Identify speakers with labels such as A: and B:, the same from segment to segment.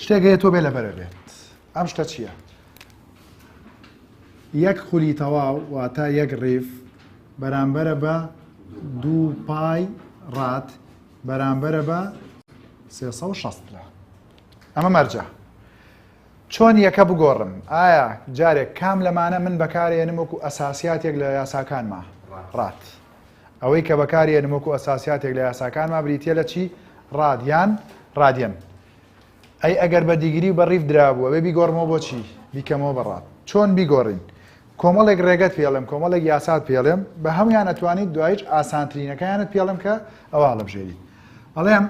A: شتێک هەیە تۆ بێ لەبەرە بێت ئەم شتە چییە؟ یەک خولی تەواو واتە یەک ڕیف بەرامبەرە بە دوو پای ڕات بەرامبەرە بە 360 لە ئەمە مەرجە چۆن یەکە بگۆڕم ئایا جارێک کام لەمانە من بەکارێنم وەکو ئەساسیاتێک لە یاساکانمە ڕات ئەوەی کە بەکاری ئەنم وەکو ئەساسیاتێک لە یاساکانما بریتیە لە چی؟ ڕاد یان ڕادیەن. ئەی ئەگەر بە دیگری و بە ڕیڤ درابوو ئەبێ بیگۆڕمەوە بۆ چی؟ بیکەمەوە بە ڕاد. چۆن بیگۆڕین؟ کۆمەڵێک ڕێگەت پێ ئەڵێم، کۆمەڵێک یاسات پێ ئەڵێم، بە هەموویان ئەتوانیت دواییش ئاسانترینەکەیانت پێ ئەڵێم کە ئەوە هەڵەبژێریت. ئەڵێم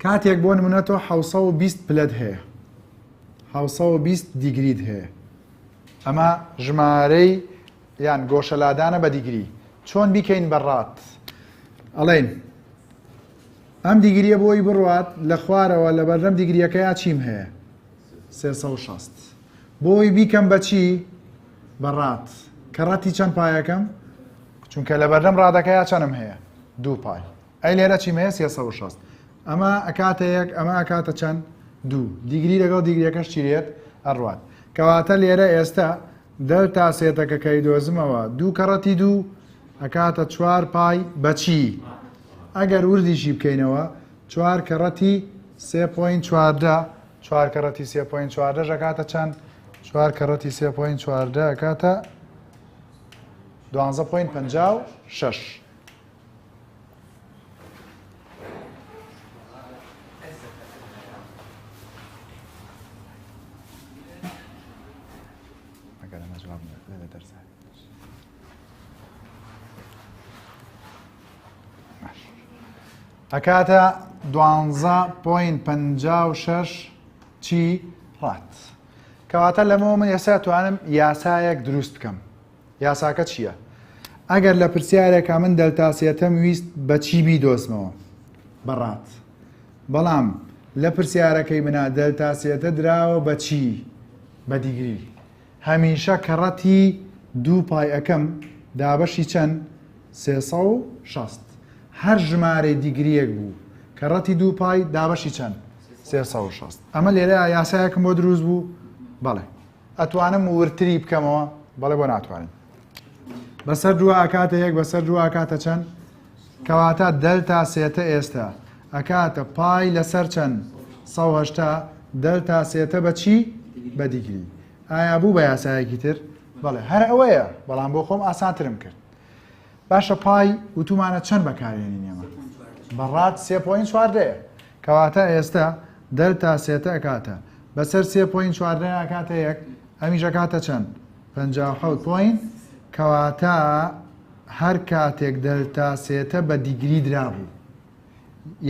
A: کاتێک بۆ نمونە تۆ حەوت سەد و بیست پلەت هەیە، حەوت سەد و بیست دیگریت هەیە، ئەمە ژمارەی یان گۆشە لادانە بە دیگری چۆن بیکەین بە ڕات ئەڵێین ئەم دیگریە بۆی بڕوات لە خوارەوە لە بەردەم دیگریەکەیا چیم هەیە شەست بۆی بیکەم بەچی بە ڕات کە ڕەتی چەند پایەکەم چونکە لە بەردەم ڕادەکەیا چەنم هەیە دوو پای ئەی لێرە چی مەیە سێ سەد و شەست ئەمە ئەکاتە یەک ئەمە ئەکاتە چەند دوو دیگری لەگەڵ دیگریەکەش چیرێت ئەڕوات کەواتە لێرە ئێستا دەلتا سێتەکە کەی دۆزمەوە دوو کەڕەتی دوو ئەکاتە چوار پای بەچی ئەگەر وردیشی بکەینەوە چوار کەڕەتی سێ پوین چواردە چوار کەڕەتی سێ پوین چواردە ژەکاتە چەند چوار کەڕەتی سێ پوین چواردە کاتە دوانزە پوین پەنجا و شەش ئەکاتە دوانزە پوین پ شش چی ڕات کەواتە لەمەوە من ئێستا توانم یاسایەک دروست بکەم یاساکە چییە؟ ئەگەر لە پرسیارێکا من دەلتا سێتم ویست بە چی بیدۆزمەوە؟ بە ڕات. بەڵام لە پرسیارەکەی منا دەلتا سێتە دراوە بە چی؟ بە دیگری. هەمیشە کە ڕەتی دوو پای ئەکەم دابەشی چەند؟ سێ سەد و شەست. هەر ژمارەی دیگرییەک بوو کە ڕەتی دوو پای دابەشی چەند؟ سێ سەد و شەست. ئەمە لێرەیا یاسایەکم بۆ دروست بوو؟ بەڵێ. ئەتوانم وردتری بکەمەوە بەڵێ بۆ ناتوانین بەسەر دووە ئەکاتە یەک بەسەر دووە ئەکاتە چەند کەواتە دەلتا سێتە ئێستا ئەکاتە پای لەسەر چەند سە هەشتا دەلتا سێتە بە چی بە دیگری ئایا بوو بە یاسایەکی تر بەڵێ هەر ئەوەیە بەڵام بۆ خۆم ئاسانترم کرد باشە پای وتومانە چەند بەکارێنین ئێمە بەڕات سێ پوین چواردەیە کەواتە ئێستە دەلتا سێتە ئەکاتە بەسەر سێ پۆینت چواردەیان ئەکاتە یەک ئەمیش ئەکاتە چەند پەنجا و حەوت پۆینت کەواتە هەر کاتێک دەلتا سێتە بە دیگری درابوو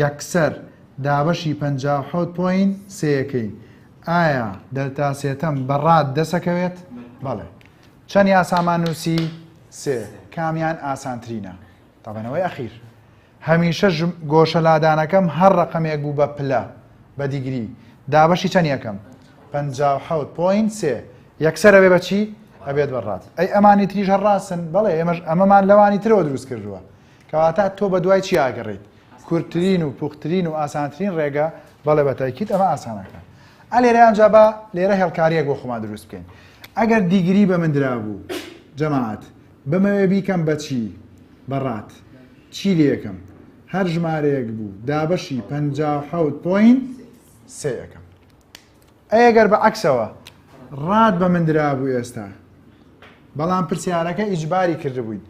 A: یەکسەر دابەشی پەنجا و حەوت پۆینت سێیەکەی ئایا دەلتا سێتەم بە ڕاد دەسەکەوێت بەڵێ چەند یاسامان نووسی سێ کامیان ئاسانترینە تابەنەوەی ئەخیر هەمیشە ژم گۆشە لادانەکەم هەر ڕەقەمێک بوو بە پلە بە دیگری دابەشی چەن یەکەم پەنجا و حەوت پۆینت سێ یەکسەر ئەبێ بە چی ئەبێت بە ڕات ئەی ئەمانی تریش هەر ڕاستن بەڵێ ئێمەش ئەمەمان لەوانی ترەوە دروست کردووە کەواتە تۆ بە دوای چی ئاگەڕیت کورتترین و پوختترین و ئاسانترین ڕێگە بەڵێ بە تاکیت ئەمە ئاسانەکە ئە لێرە ئەنجا بە لێرە هێڵکاریەک بۆ خۆمان دروست بکەین ئەگەر دیگری بە من درابوو جەماعەت بمەوێ بیکەم بە چی؟ بە ڕات. چی لێ کەم؟ هەر ژمارەیەک بوو دابەشی پەنجا و حەوت پۆینت سێ ئەکەم. ئەی ئەگەر بە عەکسەوە ڕات بە من درابوو ئێستا. بەڵام پرسیارەکە ئیجباری کردبووین.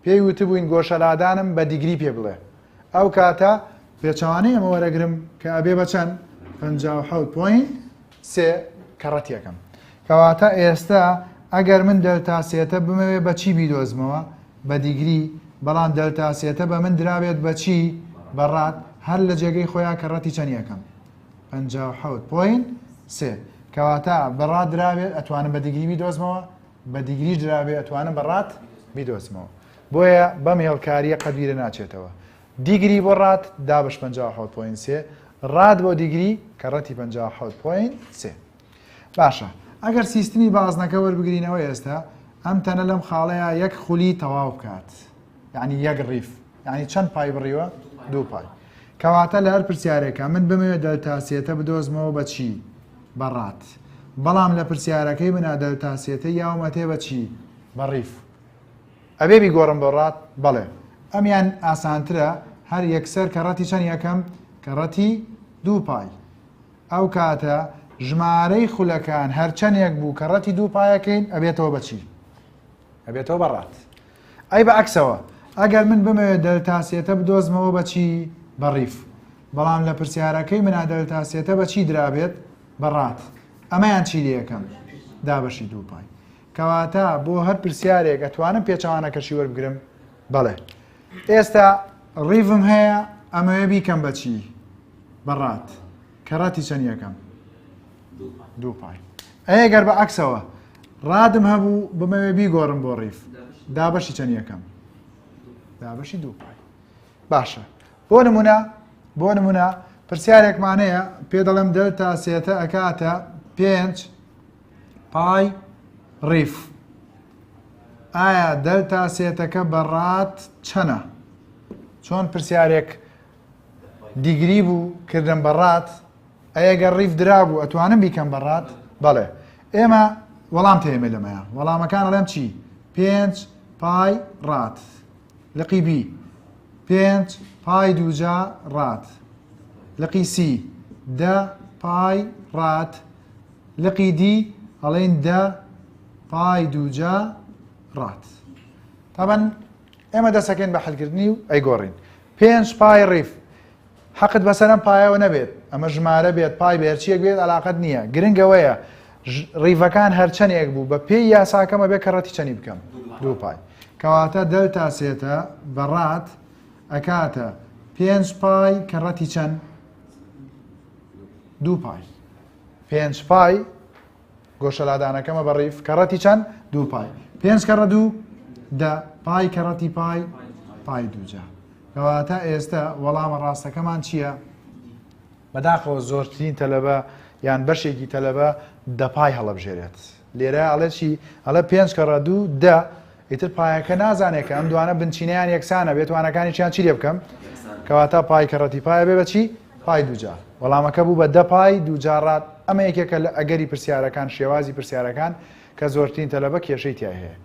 A: پێی وتبووین گۆشەلادانم بە دیگری پێ بڵێ. ئەو کاتە پێچەوانەی ئەمە وەرەگرم کە ئەبێ بە چەند؟ پەنجا و حەوت پۆینت سێ کەڕەتیەکەم کەواتە ئێستا ئەگەر من دەلتا سێتە بمەوێ بە چی بیدۆزمەوە بە دیگری بەڵام دەلتا سێتە بە من درابێت بە چی بەڕات هەر لە جێگەی خۆیان کەڕەتی چەنیەکەم پنج حوت پۆین سێ کەواتە بەڕات درابێت ئەتوانم بە دیگری بیدۆزمەوە بە دیگری درابێت ئەتوانم بەڕات بیدۆزمەوە بۆیە بەم هێڵکاریە قەبیرە ناچێتەوە دیگری بۆ ڕات دابش پەنجا و حەوت پۆینت سێ ڕات بۆ دیگری کە ڕەتی پەنجا و حەوت پۆینت سێ باشە ئەگەر سیستمی بازنەکە وەربگرینەوە ئێستا ئەم تەنە لەم خاڵەیە یەک خولی تەواو بکات یعنی یەک ڕیف یعنی چەند پای بڕیوە دوو پای کەواتە لە هەر پرسیارێکە من بمەوێت دەلتاسیەتە بدۆزمەوە بە چی بەڕات بەڵام لە پرسیارەکەی منە دەلتاسیەتە یاومەتێ بە چی بە ڕیف ئەبێ بیگۆڕم بۆ ڕات؟ بەڵێ. ئەمیان ئاسانترە هەر یەکسەر کەڕەتی چەنی ئەکەم؟ کەڕەتی دوو پای. ئەو کاتە ژمارەی خولەکان هەرچەنێک بوو کەڕەتی دوو پایەکەین ئەبێتەوە بە چی؟ ئەبێتەوە بە ڕات. ئەی بە ئەکسەوە ئەگەر من بمەوێت دەلتا سێتە بدۆزمەوە بە چی؟ بە ڕیف. بەڵام لە پرسیارەکەی منا دەلتا سێتە بە چی درابێت؟ بە ڕات. ئەمەیان چی لێ ئەکەم؟ دابەشی دوو پای. کەواتە بۆ هەر پرسیارێک ئەتوانم پێچەوانەکەشی وەربگرم بەڵێ ئێستا ڕیڤم هەیە ئەمەوێ بیکەم بەچی بەڕات کەڕەتی چەند یەکەم دوو پای ئەیە گەر بە عکسەوە ڕادم هەبوو بمەوێ بیگۆڕم بۆ ڕیف دابەشی چەند یەکەم دابەشی دوو پای باشە بۆ نمونە بۆ نمونە پرسیارێکمانەیە پێ دەڵم دەلتا سێتە ئەکاتە پێنج پای ڕیف ئایا دەلتا سێتەکە بە ڕات چەنە چۆن پرسیارێک دیگری بوو کردم بە ڕات ئەگە ڕیف درابوو ئەتوانم بیکەم بە ڕات بەڵێ ئێمە وەڵام تێمە لەمەیە وەڵامەکان ڵێم چی پێنج پای ڕات لقی بی پێنج پای دووجا ڕات لقی سی دە پای ڕات لقی دی ئەڵێن دە پای دووجا ڕات تابان ئێمە دەسەکەین بە حلکردنی و ئەیگۆڕین پێنج پای ڕیف حەقت بەسەرم پایەوە نەبێت ئەمە ژمارە بێت پای بێرچیەک بێت علااقت نییە گرنگەوەیە ڕیڤەکان هەرچەندێک بوو بە پێی یاساکەمە بێ کە ڕەتی چەنی بکەم دوو پای کەواتە دەلتا سێتە بەڕات ئەکاتە پێنج پای کە ڕەتی چەند دوو پای پێنج پای گۆشەلادانەکەمە بە ڕیف کە ڕەتی چەند دوو پای پێنج کە ڕە دوو دە پای کە ڕەتی پای پای دووجا کەواتە ئێستا وەڵامە ڕاستەکەمان چییە؟ بەداخەوە زۆرترین تەلەبە یان بەشێکی تەلەبە دەپای هەڵبژێرێت لێرە ئەڵێ چی؟ ئەڵێ پێنج کەڕە دوو دە ئیتر پایەکە نازانێت کە ئەم دوانە بنچینەیان یەکسانە بێت وانەکانیان چی لێ بکەم کەواتە پای کەڕەتی پایە بێ بەچی پای دوجار وەڵامەکە بوو بە دە پای دوجارڕات ئەمە یەکێکە لە ئەگەری پرسیارەکان شێوازی پرسیارەکان کە زۆرترین تەلەبە کێشەی تای هەیە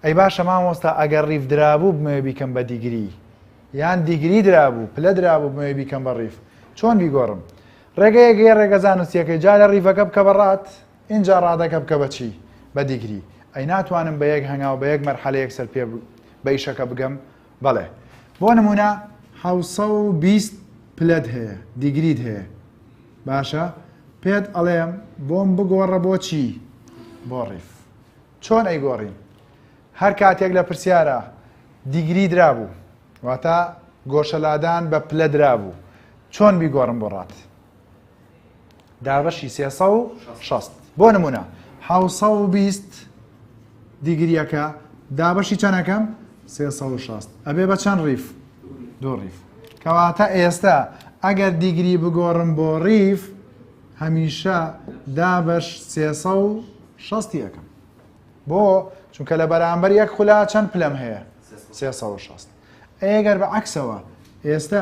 A: ئەی باشە مامۆستا ئەگەر ڕیف درابوو بمەوێ بیکەم بە دیگری یان دیگری درابوو پلە درابوو بمەوێ بیکەم بە ڕیف چۆن بیگۆڕم ڕێگەیەگەیە ڕێگەزان نووسەکەی جا لە ڕیڤەکە بکە بەڕات ئینجا ڕادەکە بکە بە چی؟ بە دیگری. ئەی ناتوانم بە یەک هەنگاو بە یەک مەرحەلە یەکسەر پێ بە ئیشەکە بگەم؟ بەڵێ. بۆ نموونە حەوت سەد و بیست پلەت هەیە، دیگریت هەیە. باشە، پێت ئەڵێم بۆم بگۆڕە بۆ چی؟ بۆ ڕیف. چۆن ئەیگۆڕین؟ هەر کاتێک لە پرسیارە دیگری درابوو، واتە گۆشەلادان بە پلە درابوو، چۆن بیگۆڕم بۆ ڕات؟ دابەشی سێ سەد و شەست بۆ نمونە حوسە و بیست دیگریەکە دابەشی چەنەکەم سێ سەد و شەست ئەبێ بە چەند ڕیف دوو ڕیف کەواتە ئێستا ئەگەر دیگری بگۆڕم بۆ ڕیف هەمیشە دابەش سێ سەد و شەستی ئەەکەم بۆ چونکە لە بەرامبەر یەک خولا چەند پلەم هەیە سێ سەد و شەست ئەی ئەگەر بە عەکسەوە ئێستە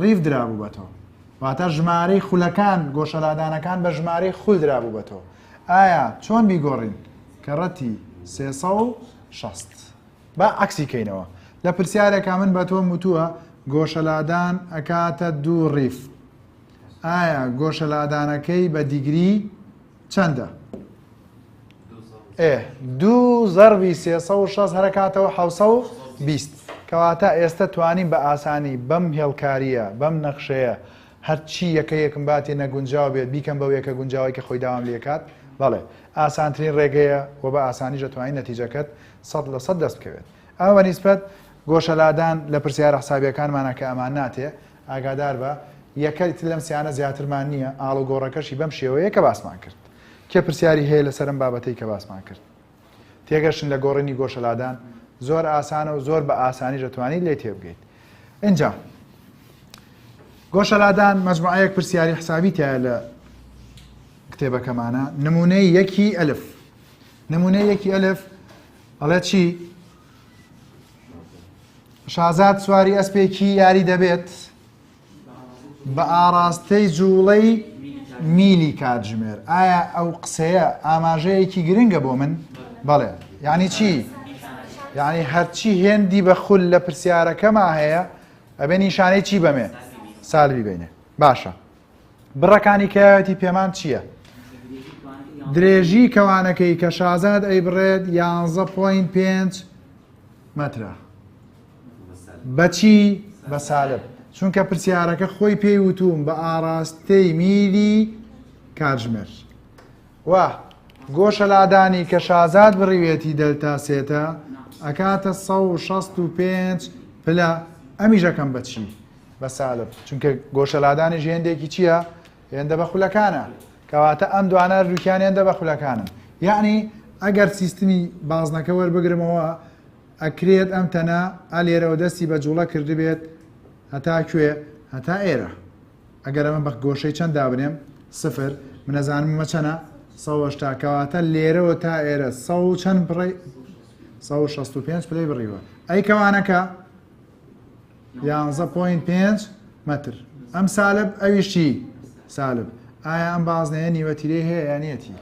A: ڕیف درابوو بە تۆ واتە ژمارەی خولەکان گۆشەلادانەکان بە ژمارەی خول درابوو بە تۆ ئایا چۆن بیگۆڕین کە ڕەتی سێسە و شەست با عکسی کەینەوە لە پرسیارێکا من بە تۆم وتووە گۆشەلادان ئەکاتە دوو ڕیف ئایا گۆشەلادانەکەی بە دیگری چەندە؟ ئێ دوو زەربی سێ سە و شەست هەرەکاتەوە حوسە و بیست کەواتە ئێستا توانین بە ئاسانی بەم هێڵکاریە بەم نەخشەیە هەرچی یەکە یەکم باتی نەگونجاو بێت بیکەم بە یەکە گونجاوی کە خۆی داوام لێکات بەڵێ ئاسانترین ڕێگەیە و بە ئاسانی دەتوانین نەتیجەکەت سە لە سە دەست بکەوێت ئەوە نیسبەت گۆشەلادان لە پرسیارە حسابیەکانمانە کە ئەمان ناتێ ئاگاداربە یەکە ئیتر لەم سیانە زیاترمان نییە، ئاڵوگۆڕەکەشی بەم شێوەیە کە باسمان کرد. کێ پرسیاری هەیە لەسەر ئەم بابەتەی کە باسمان کرد؟ تێگەشتن لە گۆڕینی گۆشە لادان زۆر ئاسانە و زۆر بە ئاسانیش دەتوانیت لێی تێبگەیت. ئینجا گۆشە لادان مەجموعەیەک پرسیاری حسابی تایە لە کتێبەکەمانە نمونەی یەکی ئەلف نمونەی یەکی ئەلف ئەڵێ چی شازاد سواری ئەسپێکی یاری دەبێت بە ئاراستەی جوڵەی میلی کاتژمێر ئایا ئەو قسەیە ئاماژەیەکی گرنگە بۆ من بەڵێ یعنی چی یعنی هەرچی هێندی بە خول لە پرسیارەکەما هەیە ئەبێ نیشانەی چی بەمێ سالوی بینێ باشە بڕەکانی کەیاوێتی پێمان چییە؟ درێژی کەوانەکەی کە شازاد ئەی بڕێت یانزە پوین پێنج مەترە بەچی بە سالب چونکە پرسیارەکە خۆی پێی وتوم بە ئاراستەی میلی کاتژمێر وا گۆشە لادانی کە شازاد بڕیوێتی دەلتا سێتە ئەکاتە 1665 پلە ئەمیژەکەم بەچی بە سالب چونکە گۆشەلادانیش هێندێکی چییە هێندە بە خولەکانە کەواتە ئەم دوانە هەردووکیان هێندە بە خولەکانن یعنی ئەگەر سیستمی بازنەکە وەربگرمەوە ئەکرێت ئەم تەنە ئالێرەوە دەستی بە جوڵە کردبێت هەتا کوێ هەتا ئێرە ئەگەر ئەمە بە گۆشەی چەند دابنێم سفر منەزانم مە چەنە سەشتا کەواتە لێرەوە تا ئێرە سە چەند بڕی 1665 پلەی بڕیوە ئەی کەوانەکە یانزە پۆینت پێنج مەتر ئەم سالب ئەویش چی سالب ئایا ئەم بازنەیە نیوەتیرەی هەیە یانەتی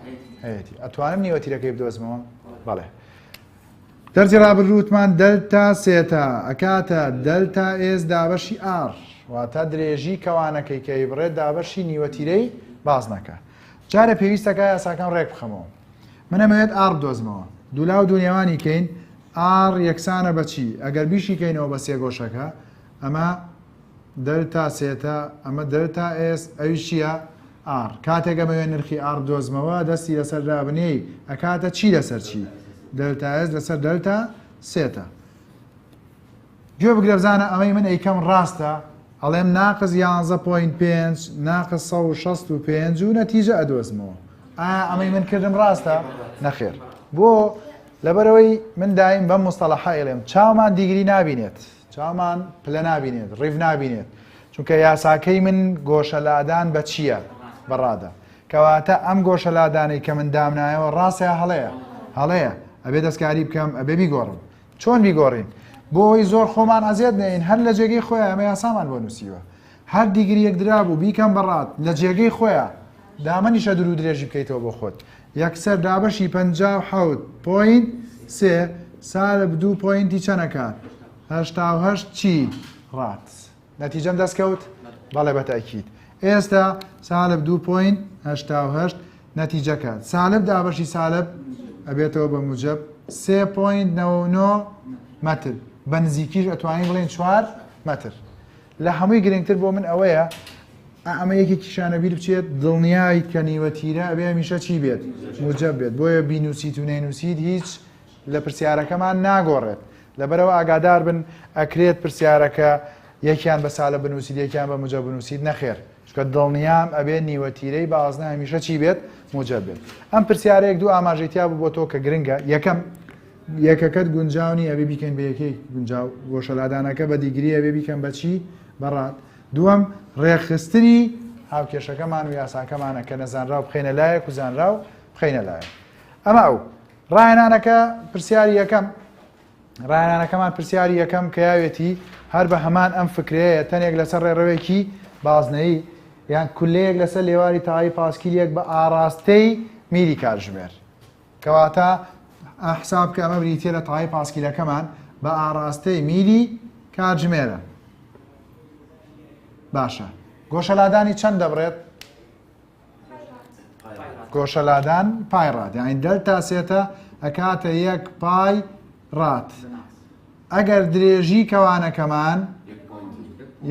A: هەیەتی ئەتوانم نیوەتیرەکەی بدۆزمەوە بەڵێ دەرجی ڕابرووتمان دەلتا سێتا ئەکاتە دەلتا ئێز دابەشی ئار واتە درێژی کەوانەکەی کەی بڕێت دابەشی نیوەتیرەی بازنەکە جارە پێویستەکە یاساکەم ڕێک بخەمەوە منەمەوێت ئار دۆزمەوە دوولا و دونیاوانی کەین ئاڕ یەکسانە بە چی؟ ئەگەر بیشیکەینەوە بە سێگۆشەکە، ئەمە دەلتا سێتە، ئەمە دەلتا ئێس، ئەویش چییە؟ ئاڕ. کاتێک ئەمەوێ نرخی ئاڕ بدۆزمەوە، دەستی لەسەر دابنێی، ئەکاتە چی لەسەر چی؟ دەلتا ئێس لەسەر دەلتا سێتە. گوێ بگرە بزانە ئەمەی من ئەیکەم ڕاستە ئەڵێم ناقز یانزە پۆین پێنج ناقز سە و شەست و پێنج و نەتیجە ئەدۆزمەوە ئایا ئەمەی من کردم ڕاستە نەخێر بۆ لەبەرەوەی من دایم بەم مستەڵەحەیڵێم چامان دیگری نابینێت چامان پلە نابینێت ڕیف نابینێت چونکە یاساکەی من گۆشەلادان بە چییە بەڕادە کەواتە ئەم گۆشەلادانەی کە من دامنایەوە ڕاستە هەڵەیە هەڵەیە ئەبێ دەستکاری بکەم ئەبێ بیگۆڕم چۆن بیگۆڕین بۆ ئەوەی زۆر خۆمان ئەزیەت نەین هەر لە جێگەی خۆیان ئەمە یاسامان بۆ نووسیوە هەر دیگریەک درابوو بیکەم بەڕات لە جێگەی خۆیان دامەنیشە درو درێژی بکەیتەوە بۆ خۆت یەکسەر دابەشی پ حوت پوین سێ سالب دوو پوینتی چەنەکات هەشتا هەشت چی ڕات نەتیجەم دەست کەوت بەڵێ بە تاکیید ئێستا سالب دو پوین هشتا و هشت نەتیجەکە سالب دابەشی سالب ئەبێتەوە بە موجب سێ پوین نەوە نۆ مەتر بە نزیکیش ئەتوانین بڵێن چوار مەتر لە هەمووی گرنگتر بۆ من ئەوەیە ئەمە یەکی کیشانە بیر بچێت دڵنیایت کە نیوە تیرە ئەبێ میشە چی بێت موجب بێت بۆیە بینوسیت و نەینوسیت هیچ لە پرسیارەکەمان ناگۆڕێت لەبەرەوە ئاگاداربن ئەکرێت پرسیارەکە یەکیان بە سالە بنووسیت یەکیان بە موجە بنووسیت نەخێر چکە دڵنیام ئەبێ نیوە تیرەی بازنە هەمیشە چی بێت موجە بێت ئەم پرسیارێک دوو ئاماژەیتیا بوو بۆ تۆ کە گرنگە یەکەم یەکەکەت گونجاونی ئەبێ بیکەین بە یەکەی گونجاو گۆشەلادانەکە بە دیگری ئەبێ بیکەم بەچی بەڕات دووەم ڕێخستنی هاوکێشەکەمان و یاساکەمانە کە نەزانراو بخینە لایەک و زانراو بخینە لایە ئەمە ئەو ڕاهێنانەکە پرسیاری یەکەم ڕاهێنانەکەمان پرسیاری یەکەم کە یاوێتی هەر بە هەمان ئەم فکرەیە تەنێک لەسەر ڕێڕەوێکی بازنەیی یان کولەیەک لەسەر لێواری تەواوی پاسکیلێک بە ئاراستەی میلی کارژمێر کەواتە حساب کە ئەمە بریتە لە تەواوی پاسکیلەکەمان بە ئاراستەی میلی کارژمێرە باشە گۆشەلادانی چەند دەبڕێت گۆشەلادان پای ڕات یعنی دەلتا سێتە ئەکاتە یەک پای ڕات ئەگەر درێژی کەوانەکەمان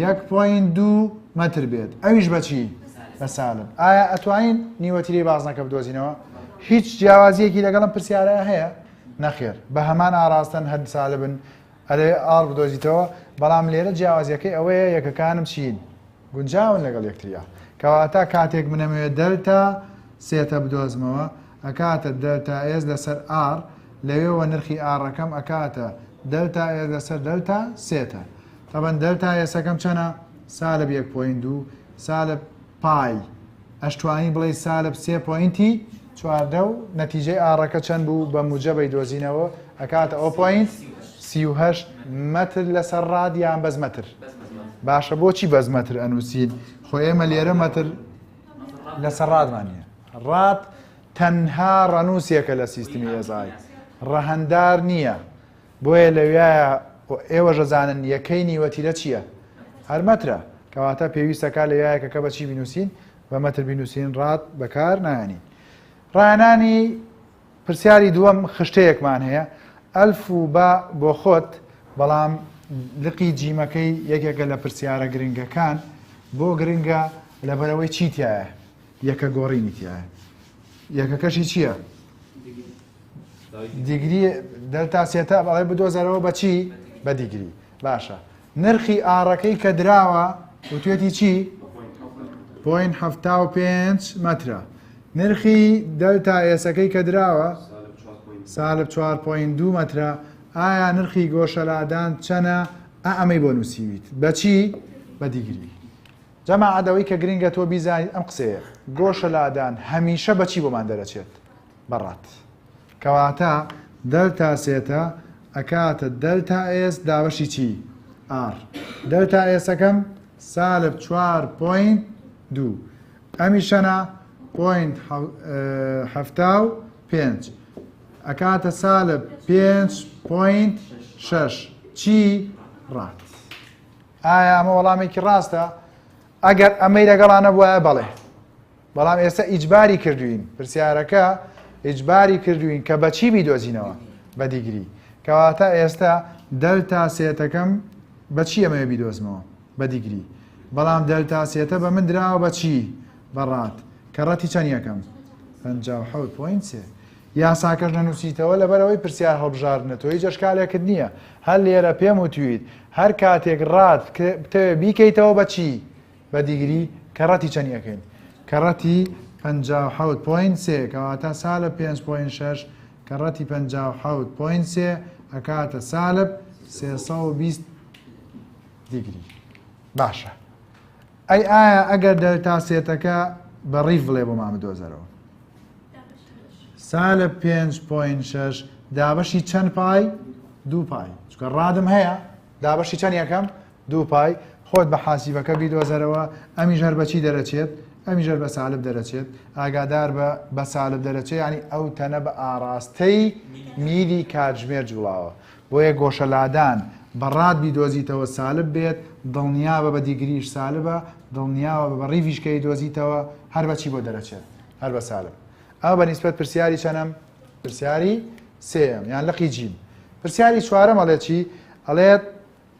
A: یەک پوین دوو مەتر بێت ئەویش بەچی بە سالب ئایا ئەتوانین نیوەتیری بازنەکە بدۆزینەوە هیچ جیاوازیەکی لەگەڵم پرسیارە هەیە نەخێر بە هەمان ئاراستن هەر سالبن ئەرێ ئاڵ بدۆزیتەوە بەڵام لێرە جیاوازیەکەی ئەوەیە یەکەکانم چین گونجاون لەگەڵ یەکتریا کەواتە کاتێک من ئەمەوێت دەلتا سێتە بدۆزمەوە ئەکاتە دەلتا ئێس لەسەر ئاڕ لەوێوە نرخی ئاڕەکەم ئەکاتە دەلتا ئێس لەسەر دەلتا سێتە تەبەن دەلتا ئێسەکەم چەنە سالب یەک پۆین دوو سالب پای ئەشتوانی بڵێی سالب سێ پۆینتی چواردە و نەتیجەی ئاڕەکە چەند بوو بە موجەبەی دۆزینەوە ئەکاتە ئەو پۆینت سی و هەشت مەتر لەسەر ڕاد یان بەس مەتر باشە بۆچی بەس مەتر ئەنووسین خۆ ئێمە لێرە مەتر لەسەر ڕادمان نیە ڕات تەنها ڕەنووسێکە لە سیستمی ئێزای ڕەهندار نییە بۆیە لەویایە ئێوەش ئەزانن یەکەی نیوەتیرە چییە؟ هەر مەترە، کەواتە پێویستە کا لەویایە کەکە بە چی بینووسین؟ بە مەتر بینووسین ڕات بەکار نایەنین. ڕایەنانی پرسیاری دووەم خشتەیەکمان هەیە ئەلف و با بۆ خۆت بەڵام لقی جیمەکەی یەکێکە لە پرسیارە گرنگەکان بۆ گرنگە لەبەرەوەی چی تایە یەکە گۆڕینی تایە یەکەکەشی چییە؟ دیگری دەلتا سێتاب ئەڵێ بدۆزەرەوە بە چی بە دیگری باشە نرخی ئاڕەکەی کە دراوە وتێتی چی پوین هەفتا و پێنج مەترە نرخی دەلتا ئێسەکەی کە دراوە سالب 4.2 مەترە ئایا نرخی گۆشەلادان چەنە ئەمەی بۆ نووسیویت بەچی بە دیگری جەما عادەوەی کە گرنگە تۆ بیزانیت ئەم قسەیە گۆشەلادان هەمیشە بەچی بۆمان دەرەچێت بە ڕات. کەواتە دەلتا سێتە ئەکاتە دەلتا ئێس دابەشی چی؟ ئاڕ. دەلتا ئێسەکەم سالب چوار پۆینت دوو. ئەمیشەنا پۆینت حەفتا و پێنج. ئەکاتە سالب پێنج پۆینت شەش. چی؟ ڕات. ئایا ئەمە وەڵامێکی ڕاستە؟ ئەگەر ئەمەی لەگەڵانە بواە بەڵێ. بەڵام ئێستا ئیجباری کردوین پرسیارەکە ئیجباری کردوین کە بەچی بیدۆزینەوە بە دیگری کەواتە ئێستا دەلتا سێتەکەم بەچی ئەمەوێ بیدۆزمەوە بە دیگری بەڵام دەلتا سێتە بە من دراوە بەچی بەڕات کە ڕەتی چەند یەکەم پوینت یاساکەش نەنووسیتەوە لەبەرەوەی پرسیار هەڵبژاردنە تۆی جەشکالێکت نییە هەر لێرە پێم وتویت هەر کاتێک ڕات بتەوێ بیکەیتەوە بەچی بە دیگری کەڕەتی چەنی ئەکەین کەڕەتی پەنجا و حەوت پۆین سێ کەواتە سالە پێنج پۆین شەش کەڕەتی پەنجا و حەوت پۆین سێ ئەکاتە سالب سێسە و بیست دیگری باشە ئەی ئایا ئەگەر دەلتا سێتەکە بە ڕیف بڵێ بۆ مامە دۆزەرەوە سالە پێنج پۆین شەش دابەشی چەند پای دوو پای چکە ڕادم هەیە دابەشی چەند یەکەم دوو پای، خۆت بە حاسیبەکە بیدۆزەرەوە، ئەمیش هەر بە چی دەرەچێت؟ ئەمیش هەر بە سالب دەرەچێت، ئاگادار بە، بە سالب دەرەچێت یانی ئەو تەنە بە ئاڕاستەی میلی کاتژمێر جوڵاوە، بۆیە گۆشە لادان بە ڕات بیدۆزیتەوە سالب بێت، دڵنیابە بە دیگریش سالبە، دڵنیابە بە ڕیڤیش کە ئەیدۆزیتەوە هەر بە چی بۆ دەرەچێت؟ هەر بە سالب. ئەمە بە نیسبەت پرسیاری چەنەم؟ پرسیاری سێیەم یان لقی جیم. پرسیاری چوارەم ئەڵێ چی؟ ئەڵێت،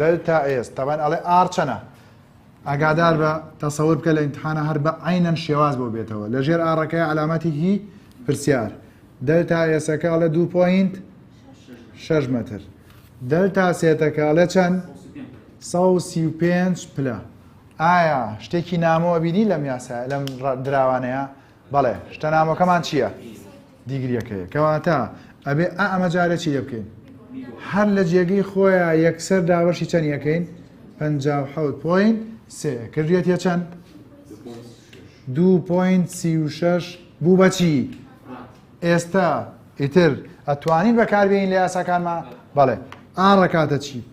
A: دەلتا ئێس تابان ئەڵێ ئاڕ چەنە؟ ئاگادار بە، تەسەور بکە لە ئیمتحانا هەر بە عەینەن شێواز بۆ بێتەوە، لە ژێر ئاڕەکەیا عەلامەتی هی پرسیار. دەلتا ئێسەکە ئەڵێ دوو پۆینت شەش مەتر. دەلتا سێتەکە ئەڵێ چەند؟ سەد و سی و پێنج پلە. ئایا شتێکی نامۆ ئەبینی لەم یاسایە لەم دراوانەیە؟ بەڵێ شتە نامۆکەمان چییە؟ دیگریەکەیە کەواتە ئەبێ ئا ئەمە جارێ چی لێ بکەین هەر لە جێگەی خۆیان یەکسەر داوەشی چەند یەکەین پ حوت پوین سێ کردێت یە چەند دو پوین سی و شش بوو بەچی ئێستا ئیتر ئەتوانین بەکاربیین لە یاساکانمان بەڵێ ئاڕەکاتە چی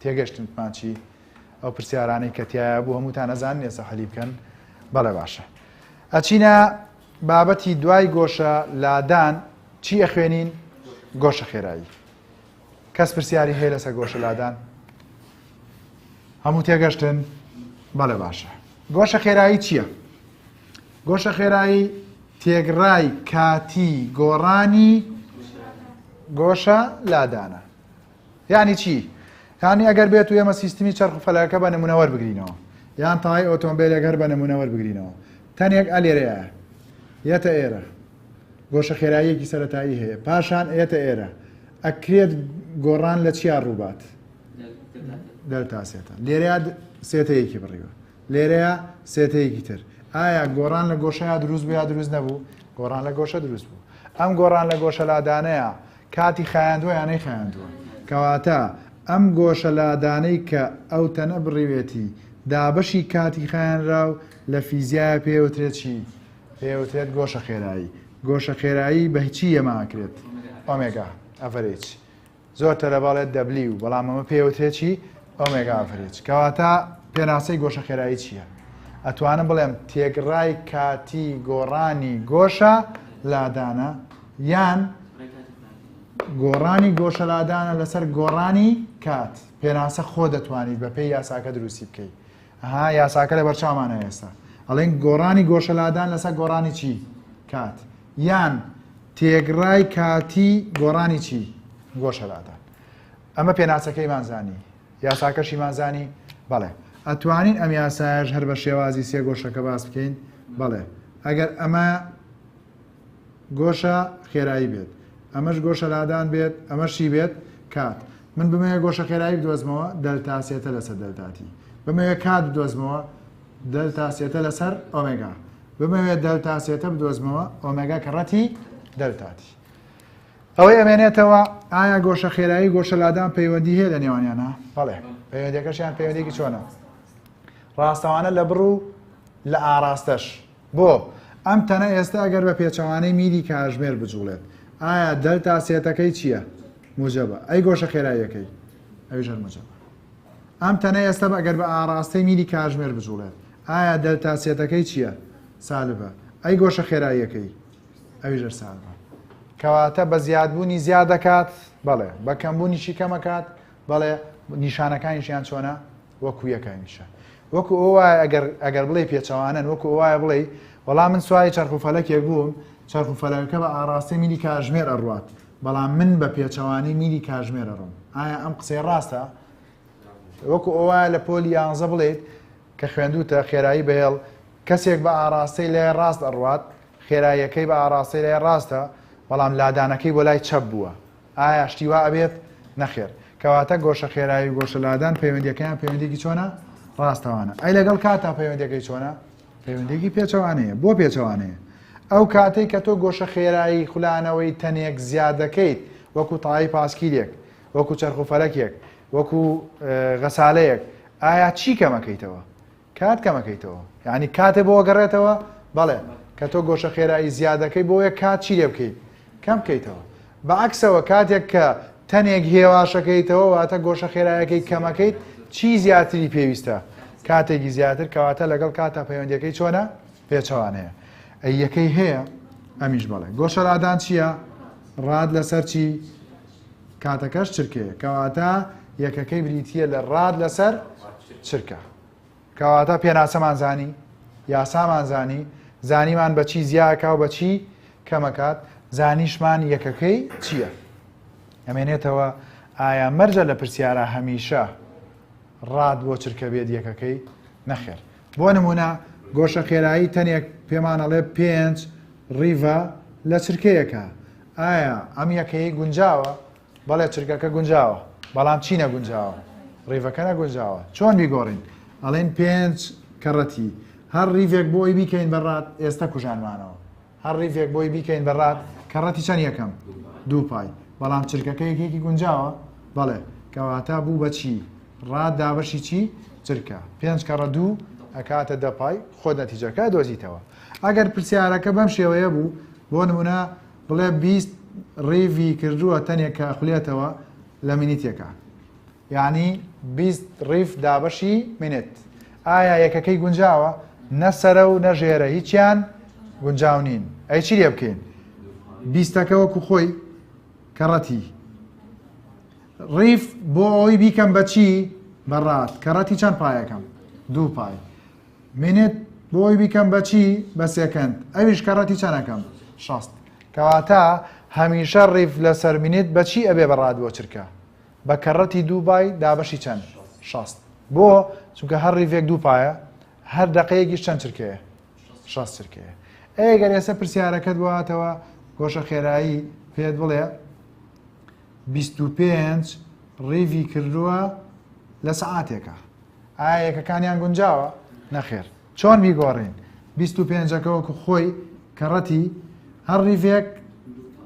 A: تێگەشتن ماچی ئەو پرسیارانەی کە تایە بوو هەمووتان ئەزان ئێستا حەلی بکەن بەڵێ باشە ئەچینە بابەتی دوای گۆشە لادان چی ئەخوێنین گۆشە خێرایی کەس پرسیاری هەیە لەسە گۆشە لادان هەموو تێگەشتن بەڵێ باشە گۆشە خێرایی چییە گۆشە خێرایی تێگڕای کاتی گۆڕانی گۆشە لادانە یانی چی؟ یانی ئەگەر بێت و ئێمە سیستمی چەرخ و فەلەکەکە بە نموونە وەربگرینەوە یان تەوای ئۆتۆمبیلێک هەر بە نموونە وەربگرینەوە تەنێک ئە لێرەیە یەتە ئێرە گۆشە خێراییەکی سەتایی هەیە پاشان ئێتە ئێرە ئەکرێت گۆڕان لە چیا ڕووبات دەلتا سێتە لێرە سێتەیەکی بڕیوە لێرەیە سێتەیەکی تر ئایا گۆڕان لە گۆشەیە دروست بە یا دروست نەبوو گۆڕان لە گۆشە دروست بوو ئەم گۆڕان لە گۆشەلادانەیە کاتی خایاندوە یا نەیخایاندوە. کەواتە ئەم گۆشە لادانەی کە ئەو تەنە بڕیوێتی دابەشی کاتی خایەنراو لە فیزیایا پێی وترێت چی؟ پێی وترێت گۆشە خێرایی. گۆشە خێرایی بە چی یەمە ئەکرێت؟ ئۆمێگا ئەڤەرێج. زۆر تەرە بەڵێت دەبلیو بەڵام ئەمە پێی وترێت چی؟ ئۆمێگا ئەڤەرێج. کەواتە پێناسەی گۆشە خێرایی چییە؟ ئەتوانم بڵێم تێکڕای کاتی گۆڕانی گۆشە لادانە. یان گۆڕانی گۆشەلادانە لەسەر گۆڕانی کات پێناسە خۆ دەتوانیت بە پێی یاساکە دروستی بکەیت ها یاساکە لە بەرچاومانە ئێستا ئەڵێن گۆڕانی گۆشەلادان لەسەر گۆڕانی چی کات یان تێگڕای کاتی گۆڕانی چی گۆشەلادان ئەمە پێناسەکەیمان زانی یاساکەشیمان زانی بەڵێ ئەتوانین ئەم یاسایش هەر بە شێوازی سێ گۆشەکە باس بکەین بەڵێ ئەگەر ئەمە گۆشە خێرایی بێت ئەمەش گۆشە لادان بێت ئەمەش چی بێت کات من بمەوێ گۆشە خێرایی بدۆزمەوە دەلتا سێتە لەسەر دەلتا تی بمەوێ کات بدۆزمەوە دەلتا سێتە لەسەر ئۆمێگا بمەوێ دەلتا سێتە بدۆزمەوە ئۆمێگا کە ڕەتی دەلتا تی ئەوەی ئەمێنێتەوە ئایا گۆشە خێرایی گۆشە لادان پەیوەندی هەیە لە نێوانیانە بەڵێ پەیوەندەکەشیان پەیوەندێکی چۆنە ڕاستەوانە لە بڕ و لە ئاراستەش بۆ؟ ئەم تەنە ئێستا گەر بە پێچەوانەی میلی کاژمێر بجوڵێت، ئایا دەلتا سێتەکەی چییە؟ موجەبە. ئەی گۆشە خێراییەکەی؟ ئەویش هەر موجەبە. ئەم تەنە ئێستا بە گەر بە ئاڕاستەی میلی کاژمێر بجوڵێت، ئایا دەلتا سێتەکەی چییە؟ سالبە. ئەی گۆشە خێراییەکەی؟ ئەویش هەر سالبە. کەواتە بە زیادبوونی زیاد دەکات؟ بەڵێ. بە کەمبوونیشی کەم ئەکات؟ بەڵێ نیشانەکانیشیان چۆنە وەکو یەکە هەمیشە وەکو ئەو وایە ئەگەر ئەگەر بڵێ پێچەوانن وەکو ئەو وایە بڵێ وەڵام من سوای چرخ و فەلەکێک بووم چرخ و فەلەکە بە ئاراستەی میلی کاژمێر ئەڕوات بەڵام من بە پێچەوانەی میلی کاژمێر ئەڕۆم ئایا ئەم قسەی ڕاستە وەکو ئەو وایە لە پۆلی یانزە بڵێیت کە خوێندوتە خێرایی بەهێڵ کەسێک بە ئاراستەی لای ڕاست ئەڕوات خێراییەکەی بە ئاراستەی لای ڕاستە بەڵام لادانەکەی بۆ لای چەپ بووە ئایا شتی وا ئەبێت؟ نەخێر. کەواتە گۆشە خێرایی و گۆشە لادان پەیوەندیەکەیان پەیوەندیکی چۆنە؟ ڕاستەوانە. ئەی لەگەڵ کاتا پەیوەندەکەی چۆنە؟ پەیوەندێکی پێچەوانەیە بۆ پێچەوانەیە ئەو کاتەی کە تۆ گۆشە خێرایی خولانەوەی تەنێک زیاد دەکەیت وەکو تاایی پاسکیرێک وەکو چرخ و فەلەکێک وەکو غەسالەیەک ئایا چی کەمەکەیتەوە کات کەمەکەیتەوە یانی کاتێ بۆ گەڕێتەوە بەڵێ کە تۆ گۆشە خێرایی زیادەکەی بۆیە کات چی لێ بکەیت کەم بکەیتەوە بەعکسەوە کاتێک کە تەنێک هێواشەکەیتەوە واتە گۆشە خێرایەکەی کەمەکەیت چی زیاتری پێویستە کاتێکی زیاتر کەواتە لەگەڵ کاتە پەیوەندەکەی چۆنە پێچەوانەیە ئە یەکەی هەیە ئەمیش بەڵێ گۆشەرادان چییە ڕاد لەسەر چی کاتەکەش چرکەیە کەواتە یەکەکەی بریتییە لە ڕاد لەسەر چرکە کەواتە پێناسەمان زانی یاسامان زانی زانیمان بەچی زیاکە و بەچی کەمەکات زانیشمان یەکەکەی چییە ئەمێنێتەوە ئایا مەرجە لە پرسیارە هەمیشە ڕاد بۆ چرکە بێت یەکەکەی نەخێر بۆ نمونە گۆشە خێرایی تەنێک پێمانەڵێ پێنج ڕیڤە لە چرکەیەکە ئایا ئەم یەکەی گونجاوە؟ بەڵێ چرکەکە گونجاوە بەڵام چی نەگونجاوە ڕیڤەکە نەگونجاوە چۆن بیگۆڕین ئەڵێن پێنج کەڕەتی هەر ڕیڤێک بۆی بیکەین بەڕات ئێستا کوژانمانەوە هەر ڕیڤێک بۆی بیکەین بەڕات کەڕەتی چەند یەکەم دوو پای بەڵام چرکەکە یەکێکی گونجاوە بەڵێ کەواتە بوو بەچی ڕات دابەشی چی چرکە پێنج کەڕە دوو ئەکاتە دەپای خۆ نەتیجەکە دۆزیتەوە ئەگەر پرسیارەکە بەم شێوەیە بوو، بۆ نموونە بڵێ بیست ڕیڤی کردووە تەنێک کە ئەخولێتەوە لە مینیتێکا. یانی بیست ڕیڤ دابەشی مینێت. ئایا یەکەکەی گونجاوە؟ نە سەرە و نە ژێرە هیچیان گونجاو نین. ئەی چی لێ بکەین؟ بیستەکە وەکو خۆی کەڕەتی ڕیف بۆ ئەوەی بیکەم بە چی بە ڕات کەڕەتی چەند پایەکەم دوو پای منت بۆی بیکەم بەچی بە سێکەند ئەویش کە ڕەتی چەنەکەم شەست کەواتە هەمیشە ڕیف لەسەر منت بەچی ئەبێ بەڕات بۆ چرکە بە کەڕەتی دووبای دابەشی چەند شەست بۆ چونکە هەر ڕیڤێک دووپایە هەر دقەیەکیش چەند چرکەیە شەست چرکەیە ئەگەر ئێستا پرسیارەکەت بواتەوە گۆشە خێرایی پێت بڵێ 25 ڕیڤی کردووە لە سعاتێکە ئایا یەکەکانیان گونجاوە؟ نەخێر چۆن بیگۆڕین بیست و پێنجەکە وەکو خۆی کەڕەتی هەر ڕیڤێک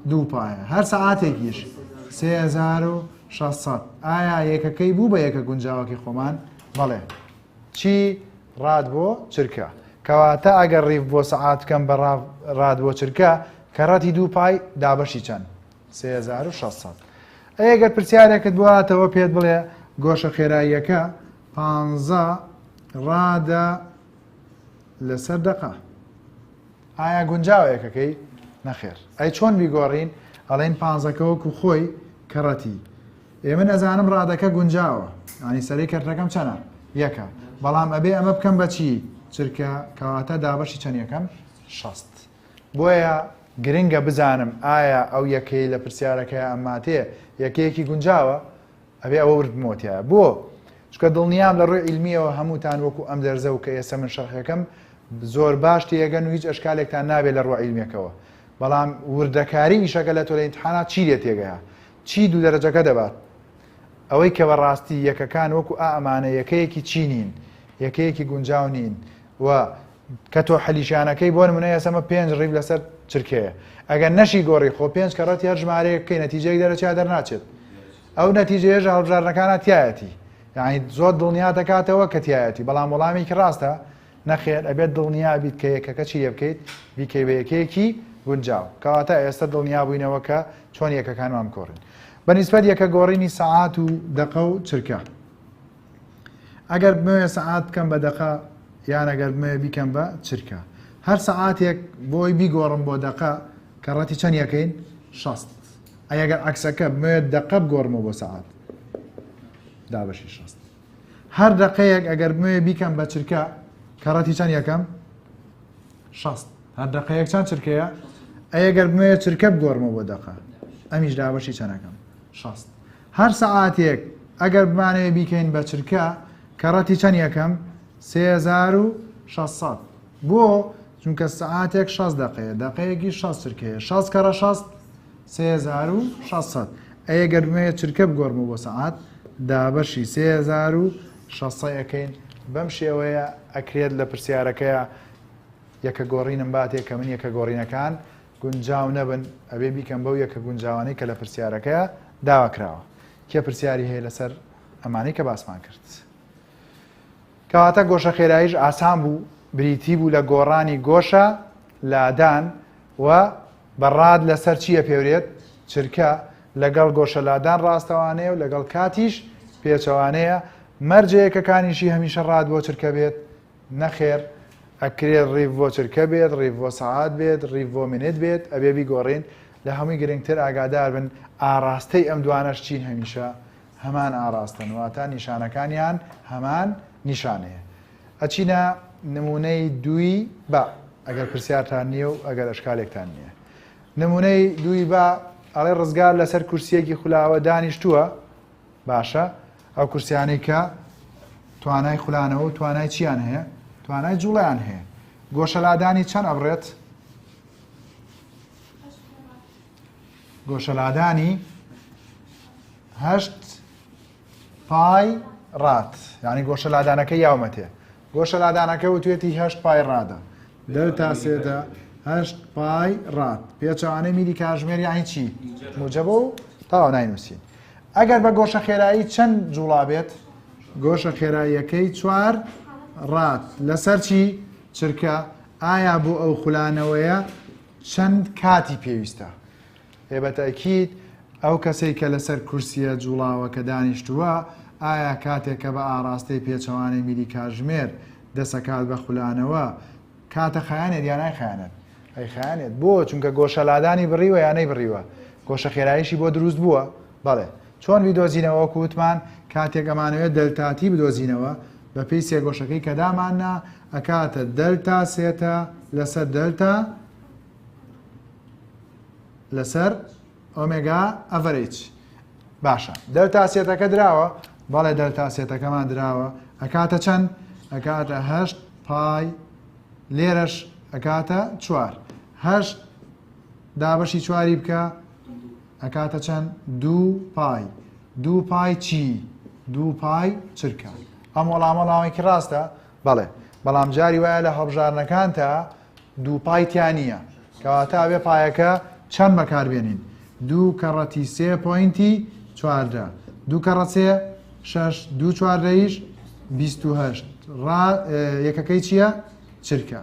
A: دوو پایە هەر سەعاتێکیش سێ هەزار و شەسەد ئایا یەکەکەی بوو بە یەکە گونجاوەکەی خۆمان بەڵێ چی ڕاد بۆ چرکە کەواتە ئەگەر ڕیف بۆ سەعات بکەم بە ڕاد بۆ چرکە کەڕەتی دوو پای دابەشی چەند سێ هەزار و شەش سەد. ئەی ئەگەر پرسیارێکت بواتەوە پێت بڵێ گۆشە خێراییەکە پانزە ڕادە لەسەر دەقە ئایا گونجاوە یەکەکەی نەخێر ئەی چۆن بیگۆڕین ئەڵین پانزەکە وەکو خۆی کەڕەتی ئێمە نەزانم ڕادەکە گونجاوە ئانی سەری کەرتەکەم چەنە یەکە بەڵام ئەبێ ئەمە بکەم بەچی چرکە کەواتە دابەشی چەند یەکەم شەست بۆیە گرنگە بزانم ئایا ئەو یەکەی لە پرسیارەکەیا ئەماتێ یەکەیەکی گونجاوە؟ ئەبێ ئەوە ورد بمەوە تیایا. بۆ؟ چونکە دڵنیام لە ڕووی عیلمییەوە هەمووتان وەکوو ئەم دەرزە و کە ئێستا من شەرحی ئەکەم زۆر باش تێیەگەن و هیچ ئەشکالێکتان نابێ لە ڕووە عیلمییەکەوە. بەڵام وردەکاریی ئیشەکە لە تۆ لە ئیمتحانا چی لێ تێگەیا؟ چی دوو دەرەجەکە دەبات؟ ئەوەی کە بەڕاستی یەکەکان وەکوو ئا ئەمانە یەکەیەکی چی نین؟ یەکەیەکی گونجاو نین و کە تۆ حەلیشانەکەی بۆن منە ئێسەمە پێنج ڕیب لەسەر چرکەیە ئەگەر نەشی گۆڕی خۆ پێنج کە ڕەتی هەر ژمارەیە بکەی نەتیجەی دەرەچیا دەرناچێت ئەو نەتیجەیەژ هەڵبژارنەکانە تایەتی یعنی زۆر دڵنیا دەکاتەوە کە تایەتی بەڵام وەڵامێکی ڕاستە نەخێر ئەبێت دڵنیا بیت کە یەکەکە چی لێ بکەیت بیکەی بە یەکەیەکی گونجاو کەواتە ئێستا دڵنیا بووینەوە کە چۆن یەکەکانمان کۆڕین بەنیسبەت یەکە گۆڕینی سەعات و دەقە و چرکە ئەگەر بمەوێ سەعات بکەم بە دەقە یان ئەگەر بمەوێ بیکەم بە چرکە هەر سەعاتێک بۆی بیگۆڕم بۆ دەقە کە ڕەتی چەند یەکەین شەست ئەگەر عکسەکە بمەوێت دەقە بگۆڕمەوە بۆ سەعات دابەشی شەست هەر دەقەیەک ئەگەر بمەوێ بیکەم بە چرکە کە ڕەتی چەند یەکەم شەست هەر دەقەیەک چەند چرکەیە ئەگەر بمەوێت چرکە بگۆڕمەوە بۆ دەقە ئەمیش دابەشی چەندەکەم شەست هەر سەعاتێک ئەگەر بمانەوێ بیکەین بە چرکە کەڕەتی چەند یەکەم سێ هەزار و شەش سەد بۆ چونکە سەعاتێک شەست دەقەیە دەقەیەکی شەست چرکەیە شەست کەڕە شەست سێ هەزار و شەست سەد ئەیە گەر بمەوێت چرکە بگۆرمە بۆ سەعات دابەشی سێ هەزار و شەست سەد ئەکەین بەم شێوەیە ئەکرێت لە پرسیارەکەیە یەکە گۆڕینم باتێ کە من یەکە گۆڕینەکان گونجاو نەبن ئەبێ بیکەن بەو یەکە گونجاوانەی کە لە پرسیارەکەیا داوا کراوە کێ پرسیاری هەیە لەسەر ئەمانەی کە باسمان کرد کەواتە گۆشە خێراییش ئاسان بوو بریتی بوو لە گۆڕانی گۆشە لادان و بەڕاد لەسەر چییە پێورێت چرکە لەگەڵ گۆشە لادان ڕاستەوانەیە و لەگەڵ کاتیش پێچەوانەیە مەرجەیەکەکانیشی هەمیشە ڕاد بۆ چرکە بێت نەخێر ئەکرێ ڕیڤ بۆ چرکە بێت ڕیڤ بۆ سەعات بێت ڕیڤ بۆ منێت بێت ئەبێ بیگۆڕین لە هەمووی گرنگتر ئاگاداربن ئاڕاستەی ئەم دوانەش چین هەمیشە هەمان ئاڕاستەن واتە نیشانەکانیان هەمان نیشانەیە ئەچینە نمونەی دووی با ئەگەر پرسیارتان نییە و ئەگەر ئەشکالێکتان نییە نمونەی دووی با ئەڵێ ڕزگار لەسەر کورسیەکی خولاوە دانیشتووە باشە ئەو کورسیانەی کە توانای خولانەوە و توانای چیان هەیە توانای جوڵیان هەیە گۆشەلادانی چەند ئەبڕێت گۆشەلادانی هەشت پای ڕات یعنی گۆشەلادانەکە یاومەتێ گۆشەلادانەکە وتوێتی هەشت پای ڕادە. دەلتا سێدە هەشت پای ڕاد. پێچەوانەی میری کاژمێر یاهی چی؟ موجەبە و تاوا ناینووسین. ئەگەر بە گۆشە خێرایی چەند جوڵا بێت؟ گۆشە خێراییەکەی چوار ڕات لەسەر چی چرکە ئایا بۆ ئەو خولانەوەیە چەند کاتی پێویستە؟ ئێ بە تەئکید ئەو کەسەی کە لەسەر کورسییە جووڵاوەکە دانیشتووە، ئایا کاتێک کە بە ئاڕاستەی پێچەوانەی میری کاتژمێر دەسەکات بە خولانەوە، کاتە خایەنێت یا نایخایەنێت؟ ئەیخایەنێت. بۆ؟ چونکە گۆشە لادانی بڕیوە یا نەیبڕیوە؟ گۆشە خێراییشی بۆ دروست بووە؟ بەڵێ. چۆن بیدۆزینەوە؟ وەکو وتمان کاتێک ئەمانەوێت دەلتا تی بدۆزینەوە، بە پێی سێگۆشەکەی کە داماننا، ئەکاتە دەلتا سێتە لەسەر دەلتا، لەسەر ئۆمێگا ئەڤەرج باشە دەلتا سێتەکە دراوە بەڵێ دەلتا سێتەکەمان دراوە ئەکاتە چەند ئەکاتە هەشت پای لێرەش ئەکاتە چوار هەشت دابەشی چواری بکە ئەکاتە چەند دوو پای دوو پای چی دوو پای چرکە ئەم وەڵامەڵامێکی ڕاستە بەڵێ بەڵام جاری وایە لە هەڵبژارنەکان تا دوو پای تیا نییە کەواتە ئەبێ پایەکە چەند بەکاربێنین دوو کەڕەتی سێ پوینتی چواردە دوو کەڕەت سێ شش دوو چواردەیش بیهشت ڕا یەکەکەی چییە چرکە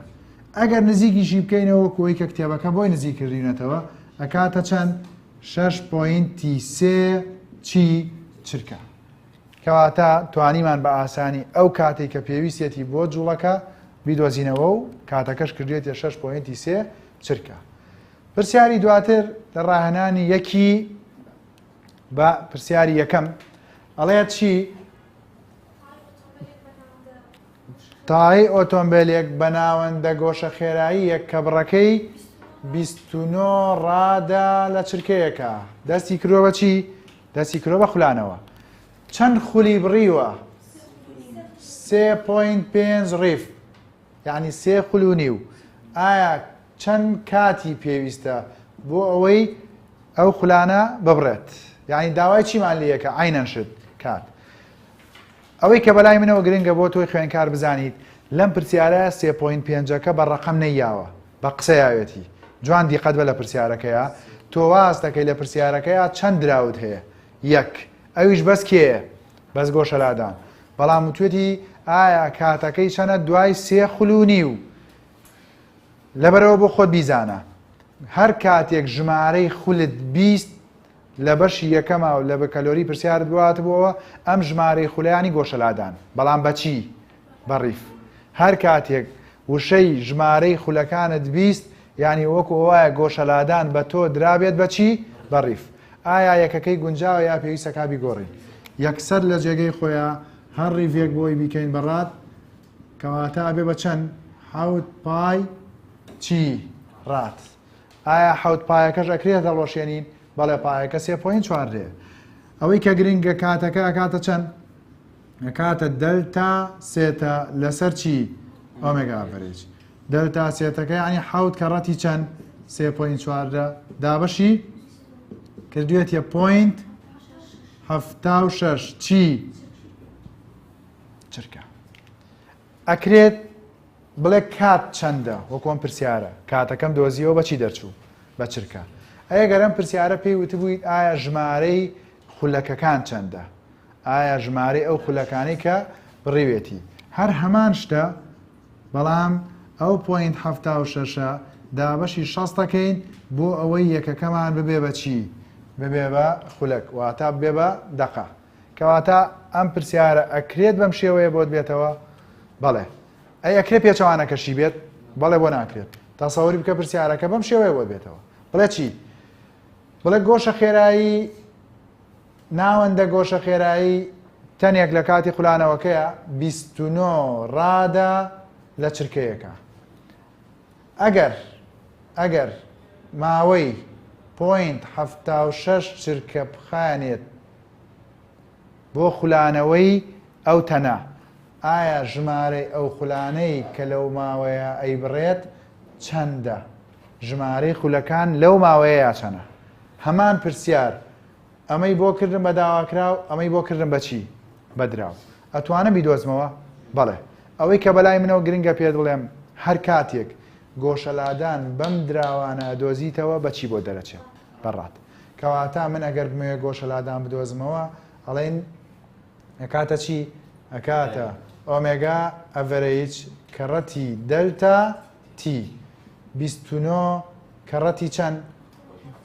A: ئەگەر نزیکیشی بکەینەوە کۆی کە کتێبەکە بۆی نزیک کردینەتەوە ئەکاتە چەند شش پوینتی سێ چی چرکە کەواتە توانیمان بە ئاسانی ئەو کاتەی کە پێویستێتی بۆ جوڵەکە بیدۆزینەوە و کاتەکەش کردوێتە شەش پۆینتی سێ چرکە پرسیاری دواتر لە ڕاهێنانی یەکی بە پرسیاری یەکەم ئەڵێت چی تای ئۆتۆمبیلێک بە ناوەندە گۆشە خێرایی یەک کە بڕەکەی 29 ڕادا لە چرکەیەکە دەستی کرۆوە چی دەستی کرۆ بە خولانەوە چەند خولی بڕیوە سێ پوین پێنج ڕیف یعنی سێ خول و نیو ئایا چەند کاتی پێویستە بۆ ئەوەی ئەو خولانە ببڕێت یعنی داوای چیمان لەکە ئاینەن شت کات ئەوەی کە بەلای منەوە گرنگە بۆ تۆی خوێنکار بزانیت لەم پرسیارە سێ پۆینت پێنجەکە بە ڕەقەم نەیاوە بە قسەیاوێتی جوان دیقەت بە لە پرسیارەکەیا تۆ وااست دەکەی لە پرسیارەکەیا چەند دراوت هەیە یەک ئەویش بەس کێیە بەس گۆشەلادان بەڵام وتوێتی ئایا کاتەکەی چەنە دوای سێ خلوونی و لەبەرەوە بۆ خۆت بیزانە هەر کاتێک ژمارەی خولت بیست لە بەشی یەکەما و لە بەکەلۆری پرسیارت بۆ هاتبۆوە ئەم ژمارەی خولەیانی گۆشەلادان بەڵام بە چی؟ بە ڕیف. هەر کاتێک وشەی ژمارەی خولەکانت بیست یانی وەکو وایە گۆشەلادان بە تۆ درابێت بە چی؟ بە ڕیف. ئایا یەکەکەی گونجاوە یا پێویستە کا بیگۆڕین؟ یەکسەر لە جێگەی خۆیا هەر ڕیڤێک بۆی بیکەین بە ڕات کەواتە ئەبێ بە چەند؟ حەوت پای چی؟ ڕات. ئایا حەوت پایەکەش ئەکرێ دەڵۆشێنین بەڵێ پایەکە سێ پۆین چوار رێ ئەوەی کە گرنگە کاتەکە ئەکاتە چەند ئەکاتە دەلتا سێتە لەسەر چی ئۆمێگا ئەڤرێج دەلتا سێتەکە ینی حەوت کە ڕەتی چەند سێ پۆین چواردە دابەشی کردوێتە پۆینت هەفتا و شەش چی چرکە ئەکرێت بڵێ کات چەندە وەکو ئەم پرسیارە کاتەکەم دۆزیەوە بەچی دەرچوو بە چرکە ئەیە گەرم پرسیارە پێی وتبوویت ئایا ژمارەی خولەکەکان چەندە ئایا ژمارەی ئەو خولەکانی کە بڕیوێتی هەر هەمان شتە بەڵام ئەو پوینت هەفتا و شەشە دابەشی شەستەکەین بۆ ئەوەی یەکەکەمان ببێ بە چی ببێ بە خولەک واتا بێ بە دەقە کەواتە ئەم پرسیارە ئەکرێت بەم شێوەیە بۆت بێتەوە بەڵێ ئەی ئەکرێ پێچەوانەکەشی بێت بەڵێ بۆ ناکرێت تاسەوەری بکە پرسیارەکە بەم شێوەیە بۆت بێتەوە بڵێ چی بڵێ گۆشە خێرایی ناوەندە گۆشە خێرایی تەنێک لە کاتی خولانەوەکەیە 29 ڕادە لە چرکەیەەکە ئەگەر ئەگەر ماوەی پوینت ه شش چرکە بخانێت بۆ خولانەوەی ئەو تەنە، ئایا ژمارەی ئەو خولانەی کە لەو ماوەیە ئەیبڕێت چەندە؟ ژمارەی خولەکان لەو ماوەیەیا چەنە؟ هەمان پرسیار، ئەمەی بۆ کردم بە داواکراو، ئەمەی بۆ کردم بە چی؟ بە دراو. ئەتوانم بیدۆزمەوە؟ بەڵێ. ئەوەی کە بەلای منەوە گرنگە پێت بڵێم، هەر کاتێک گۆشەلادان بەم دراوانە ئەدۆزیتەوە بە چی بۆت دەرەچێت؟ بەڕاد. کەواتا من ئەگەر بمەوێ گۆشە لادان بدۆزمەوە ئەڵێن ئەکاتە چی؟ ئەکاتە ئۆمێگا ئەڤەرەیج کەڕەتی دەلتا تی بیست و نۆ کەڕەتی چەند؟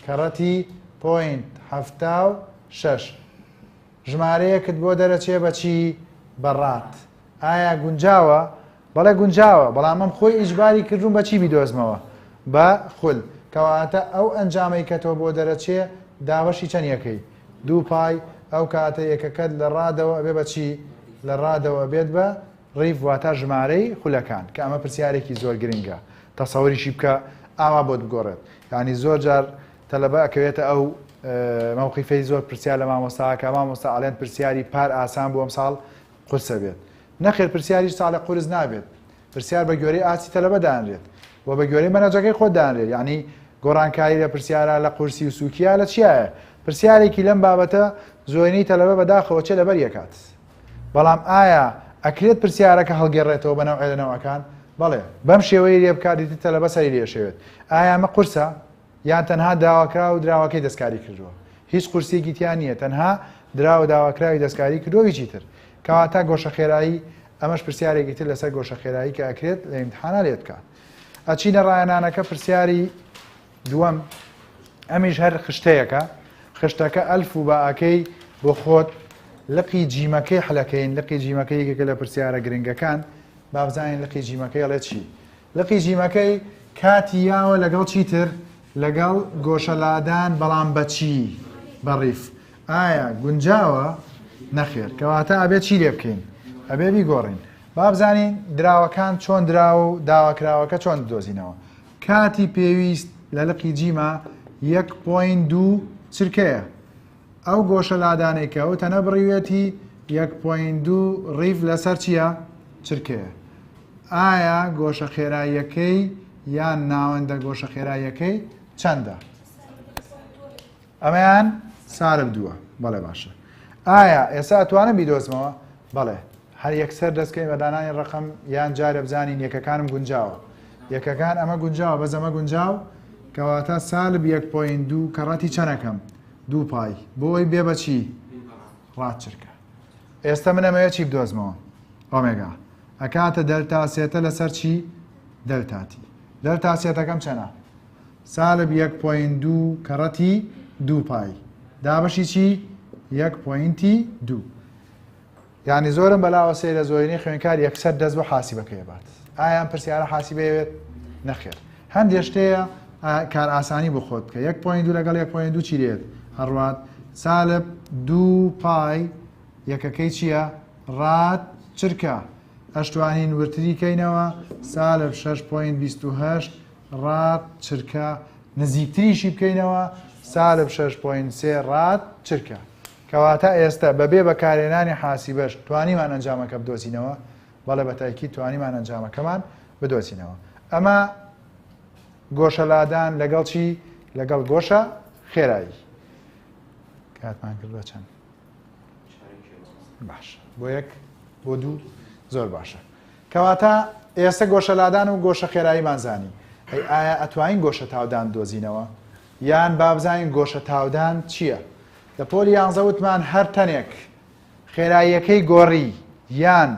A: کەڕەتی پۆینت حەفتا و شەش ژمارەیەکت بۆ دەرەچێ بە چی؟ بە ڕات. ئایا گونجاوە بەڵێ گونجاوە بەڵام من خۆی ئیجباری کردووم بە چی بیدۆزمەوە بە خول کەواتە ئەو ئەنجامەی کە تۆ بۆ دەرەچێ دابەشی چەند یەکەی دوو پای ئەو کاتە یەکەکەت لە ڕادەوە ئەبێ بە چی لە ڕادەوە ئەبێت بە ڕیڤ واتا ژمارەی خولەکان کە ئەمە پرسیارێکی زۆر گرنگە تەسەوریشی بکە ئاوا بۆت بگۆڕێت یعنی زۆر جار تەلەبە ئەکەوێتە ئەو مەوقیفەی زۆر پرسیار لە مامۆستاکە مامۆستا ئەڵێن پرسیاری پار ئاسان بووم ساڵ قورسە بێت؟ نەخێر پرسیار هیچ ساڵێک قورس نابێت، پرسیار بە گوێرەی ئاستی تەلەبە دانرێت و بە گوێرەی مەنهەجەکەی خۆت دانرێت، یانی گۆڕانکاری لە پرسیارا لە قورسی و سوکیا لە چیایە؟ پرسیارێکی لەم بابەتە زۆرینەی تەلەبە بەداخەوە چێ لەبەری ئەکات. بەڵام ئایا ئەکرێت پرسیارەکە هەڵگێڕێتەوە بە نەوعێ لە نەوعەکان؟ بەڵێ، بەم شێوەیەی لێ بکات ئیتر تەلەبە سەری لێ ئەشێوێت، ئایا ئەمە قورسە؟ یان تەنها داواکراو و دراوەکەی دەستکاری کردووە هیچ قورسیەکی تیا نییە تەنها دراوە داواکراوی دەستکاری کردووە هیچی تر کەواتە گۆشە خێرایی ئەمەش پرسیارێکی تر لەسەر گۆشە خێرایی کە ئەکرێت لە ئیمتحانا لێت بکە ئەچینە ڕایەنانەکە پرسیاری دووەم ئەمیش هەر خشتەیەەکە خشتەکە ئەلف و باکەی بۆ خۆت لقی جیمەکەی حلەکەین لقی جیمەکەیەکێکە لە پرسیارە گرنگەکان بابزانین لقی جیمەکەی ڵێ چی لقی جیمەکەی کاتی یاوە لەگەڵ چیتر لەگەڵ گۆشە لادان بەڵام بەچی بەڕیف ئایا گونجاوە نەخێر کەواتە ئەبێت چی لێ بکەین ئەبێ بیگۆڕین بابزانین دراوەکان چۆن دراوە و داواکراوەکە چۆن دۆزینەوە کاتی پێویست لە لقی جیما یەک پوین دوو چرکەیە ئەو گۆشە لادانەی کە ئەو تەنە بڕیوێتی یەک پۆینت دوو ڕیڤ لەسەر چییە؟ چرکەیە. ئایا گۆشە خێراییەکەی یان ناوەندە گۆشە خێراییەکەی چەندە؟ ئەمەیان سالب دووە بەڵێ باشە. ئایا ئێستا ئەتوانم بیدۆزمەوە؟ بەڵێ هەر یەکسەر دەستکەین بە دانانی ڕقم یان جارە بزانین یەکەکانم گونجاوە. یەکەکان ئەمە گونجاوە بەس ئەمە گونجاو کەواتە سالب یەک پۆینت دوو کەڕەتی چەنەکەم؟ دوو پای بۆی بێ بەچی ڕات چرکە ئێستا من ئەمەیە چی بدۆزمەوە ئۆمێگا ئەکاتە دەلتا سێتە لەسەر چی دەلتاتی دەلتا سێتەکەم چەنە سالب یەک پوین دوو کەڕەتی دوو پای دابەشی چی یەک پوینتی دوو یانی زۆرم بەلاوە سەیرە زۆرینەی خوێنکار یەکسەر دەست بۆ حاسیبەکەی ئەبات ئایا ئەم پرسیارە حاسیبەی ئەوێت نەخێر هەندێ شتەیە کار ئاسانی بۆ خۆت بکە یەک پوین دوو لەگەڵ یەک پوین دوو چی لێت هەڕوات سالب دوو پای یەکەکەی چییە ڕات چرکە ئەشتوانین ورتری کەینەوە سالب 6.28 ڕات چرکە نزیکتریشی بکەینەوە سالب 6.3 ڕات چرکە کەواتە ئێستە بەبێ بەکارهێنانی حاسیبەش توانیمان ئەنجامەکە بدۆزینەوە؟ بەڵێ بە تاکید توانیمان ئەنجامەکەمان بدۆزینەوە. ئەمە گۆشە لادان لەگەڵ چی؟ لەگەڵ گۆشە خێرایی. کاتمان کرد بە چەند. باش بۆ یەک بۆ دوو زۆر باشە. کەواتە ئێستا گۆشە لادان و گۆشە خێراییمان زانی. هەی ئایا ئەتوانین گۆشە تاودان دۆزینەوە؟ یان با بزانین گۆشە تاودان چییە؟ لە پۆلی یانزە وتمان هەر تەنێک خێراییەکەی گۆڕی یان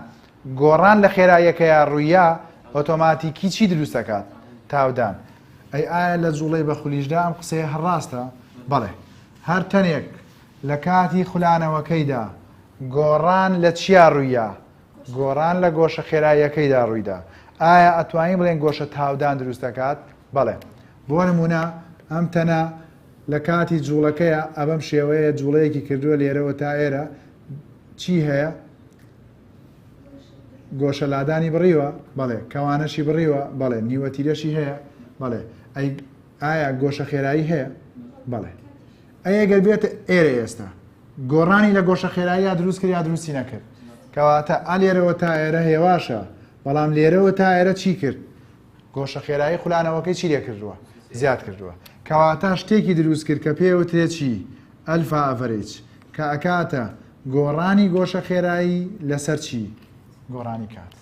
A: گۆڕان لە خێراییەکەیا ڕوویە ئۆتۆماتیکی چی دروست دەکات تاودان ئەی ئایا لە جوڵەی بە خولیشدا ئەم قسەیە هەڕاستە بەڵێ هەر تەنێک لە کاتی خولانەوەکەیدا گۆڕان لە چیا ڕوویە گۆڕان لە گۆشە خێراییەکەیدا ڕوویدا ئایا ئەتوانین بڵێن گۆشە تاودان دروست دەکات بەڵێ بۆ نموونە ئەم تەنە لە کاتی جووڵەکەیە ئەبەم شێوەیە جووڵەیەکی کردووە لێرەوە تا ئێرە چی هەیە گۆشە لادانی بڕیوە بەڵێ کەوانەشی بڕیوە بەڵێ نیوەتیرەشی هەیە بەڵێ ئایا گۆشە خێرایی هەیە بەڵێ ئەگەر بێت ئێرە ئێستا گۆڕانی لە گۆشە خێرایی دروست کرد یا دروستی نەکرد کەواتە ئالێرەوە تا ئێرە هێواشە بەڵام لێرەوە تا ئێرە چی کرد گۆشە خێرایی خولانەوەکەی چی لێ کردووە زیاد کردووە کەواتە شتێکی دروست کرد کە پێوترێت چی ئەلفا ئەڤەرێج کە ئەکاتە گۆڕانی گۆشە خێرایی لەسەر چی گۆڕانی کات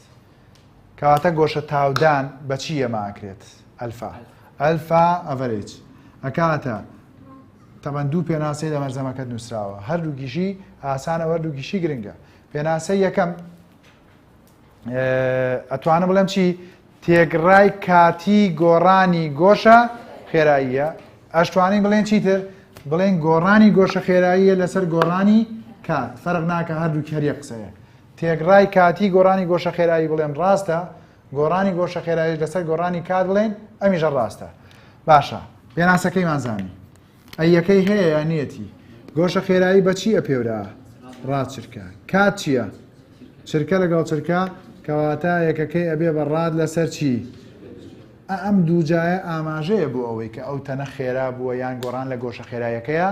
A: کەواتە گۆشە تاودان بەچی ئەماکرێت ئەلفا ئەلفا ئەڤەرێج ئەکاتە تەمەەن دوو پێناسەی لە مەرزەمەکەت نووسراوە هەردوو گیشی ئاسانە وەردوو گیشی گرنگە پێناسە یەکەم ئەتوانم بڵێم چی تێکڕای کاتی گۆڕانی گۆشە خێراییە ئەشتوانین بڵێن چیتر بڵێن گۆڕانی گۆشە خێراییە لەسەر گۆڕانی کات فەرق ناکە هەردوو کەریە قسەیە تێکڕای کاتی گۆڕانی گۆشە خێرایی بڵێن ڕاستە گۆڕانی گۆشە خێرایی لەسەر گۆڕانی کات بڵێن ئەمیژە ڕاستە باشە پێناسەکەیمان زانی ئەی یەکەی هەیە یا نیەتی. گۆشە خێرایی بە چی ئەپێورا؟ ڕا چرکە. کات چیە؟ چرکە لەگەڵ چرکە کەواتە یەکەکەی ئەبێ بە ڕاد لەسەر چی؟ ئە ئەم دوو جایە ئاماژەیە بۆ ئەوەی کە ئەو تەنە خێرا بووە یان گۆڕان لە گۆشە خێرایەکەیا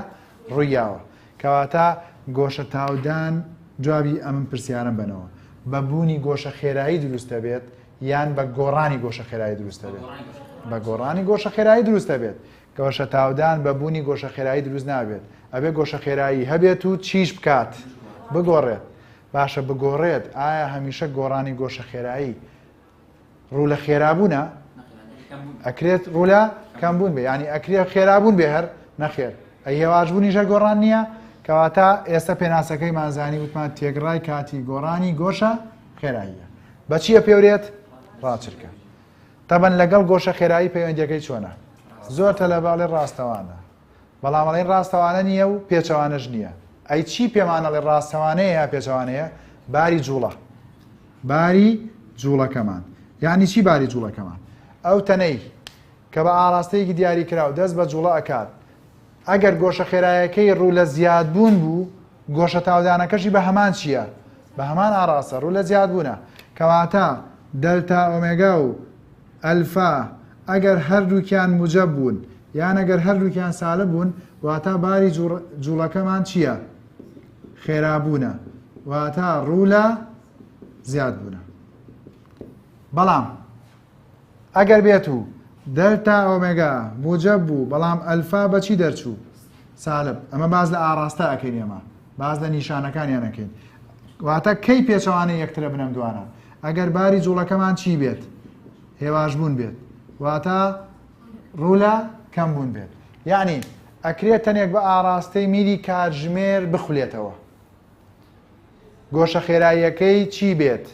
A: ڕوویاوە. کەواتە گۆشە تاودان جوابی ئەم پرسیارەم بەنەوە بە بوونی گۆشە خێرایی دروستە بێت یان بە گۆڕانی گۆشە خێرایی دروستە بێت؟ بە گۆڕانی گۆشە خێرایی دروستە بێت. گۆشەتاودان بە بوونی گۆشە خێرایی دروست نابێت ئەبێ گۆشە خێرایی هەبێت و چیش بکات بگۆڕێت باشە بگۆڕێت ئایا هەمیشە گۆڕانی گۆشە خێرایی ڕوو لە خێرابوونە ئەکرێت ڕوولە کەم بوون بێ ینی ئەکرێت خێرابوون بێ هەر نەخێر ئەهێواش بوونی ژە گۆڕان نییە کەواتە ئێستا پێناسەکەی مازانی وتمان تێگڕای کاتی گۆڕانی گۆشە خێراییە بەچیە پێورێت ڕاچرکە تەبەن لەگەڵ گۆشە خێرایی پەیوەندیەکەی چۆنە؟ زۆر تەلەبە ئەڵێ ڕاستەوانە بەڵام ئەڵێن ڕاستەوانە نییە و پێچەوانەش نییە ئەی چی پێمان ئەڵێ ڕاستەوانەیە یا پێچەوانەیە باری جوڵە باری جوڵەکەمان یعنی چی باری جوڵەکەمان ئەو تەنەی کە بە ئاراستەیەکی دیاری کرا و دەست بە جوڵە ئەکات ئەگەر گۆشە خێرایەکەی ڕوو لە زیادبوون بوو گۆشە تاودانەکەشی بە هەمان چییە بە هەمان ئاڕاستە ڕوو لە زیادبوونە. کەواتە دەلتا ئۆمێگا و ئەلفا ئەگەر هەردووکیان موجەب بوون یان ئەگەر هەردووکیان سالب بوون واتا باری جووڵەکەمان چییە؟ خێرابوونە واتا ڕوو لە زیادبوونە. بەڵام. ئەگەر بێت و دەلتا ئۆمێگا موجەب بوو بەڵام ئەلفا بە چی دەرچوو سالب ئەمە باس لە ئاڕاستە ئەکەین ئێمە باس لە نیشانەکانیان ئەکەین واتە کەی پێچەوانەی یەکترە بنەم دوانە ئەگەر باری جوڵەکەمان چی بێت هێواش بوون بێت واتە ڕوولە کەم بوون بێت یعنی ئەکرێت تەنێک بە ئاراستەی میری کاتژمێر بخولێتەوە گۆشە خێراییەکەی چی بێت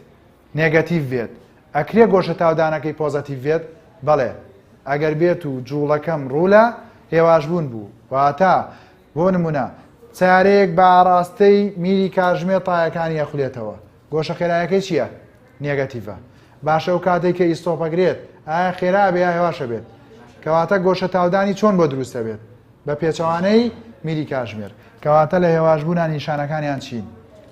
A: نێگەتیڤ بێت ئەکرێ گۆشە تاودانەکەی پۆزەتیڤ بێت؟ بەڵێ ئەگەر بێت و جووڵەکەم ڕوو لە هێواشبوون بوو واتە بۆ نمونە سیارەیەک بە ئاڕاستەی میری کاژمێر تایەکانی ئەخولێتەوە گۆشە خێرایەکەی چییە؟ نێگەتیڤە باشە و کاتێک کە ئیستۆپەگرێت ئایا خێرا بێ یا هێواشە بێت کەواتە گۆشە تاودانی چۆن بۆ دروستە بێت؟ بە پێچەوانەی میری کاژمێر. کەواتە لە هێواشبوونا نیشانەکانیان چین؟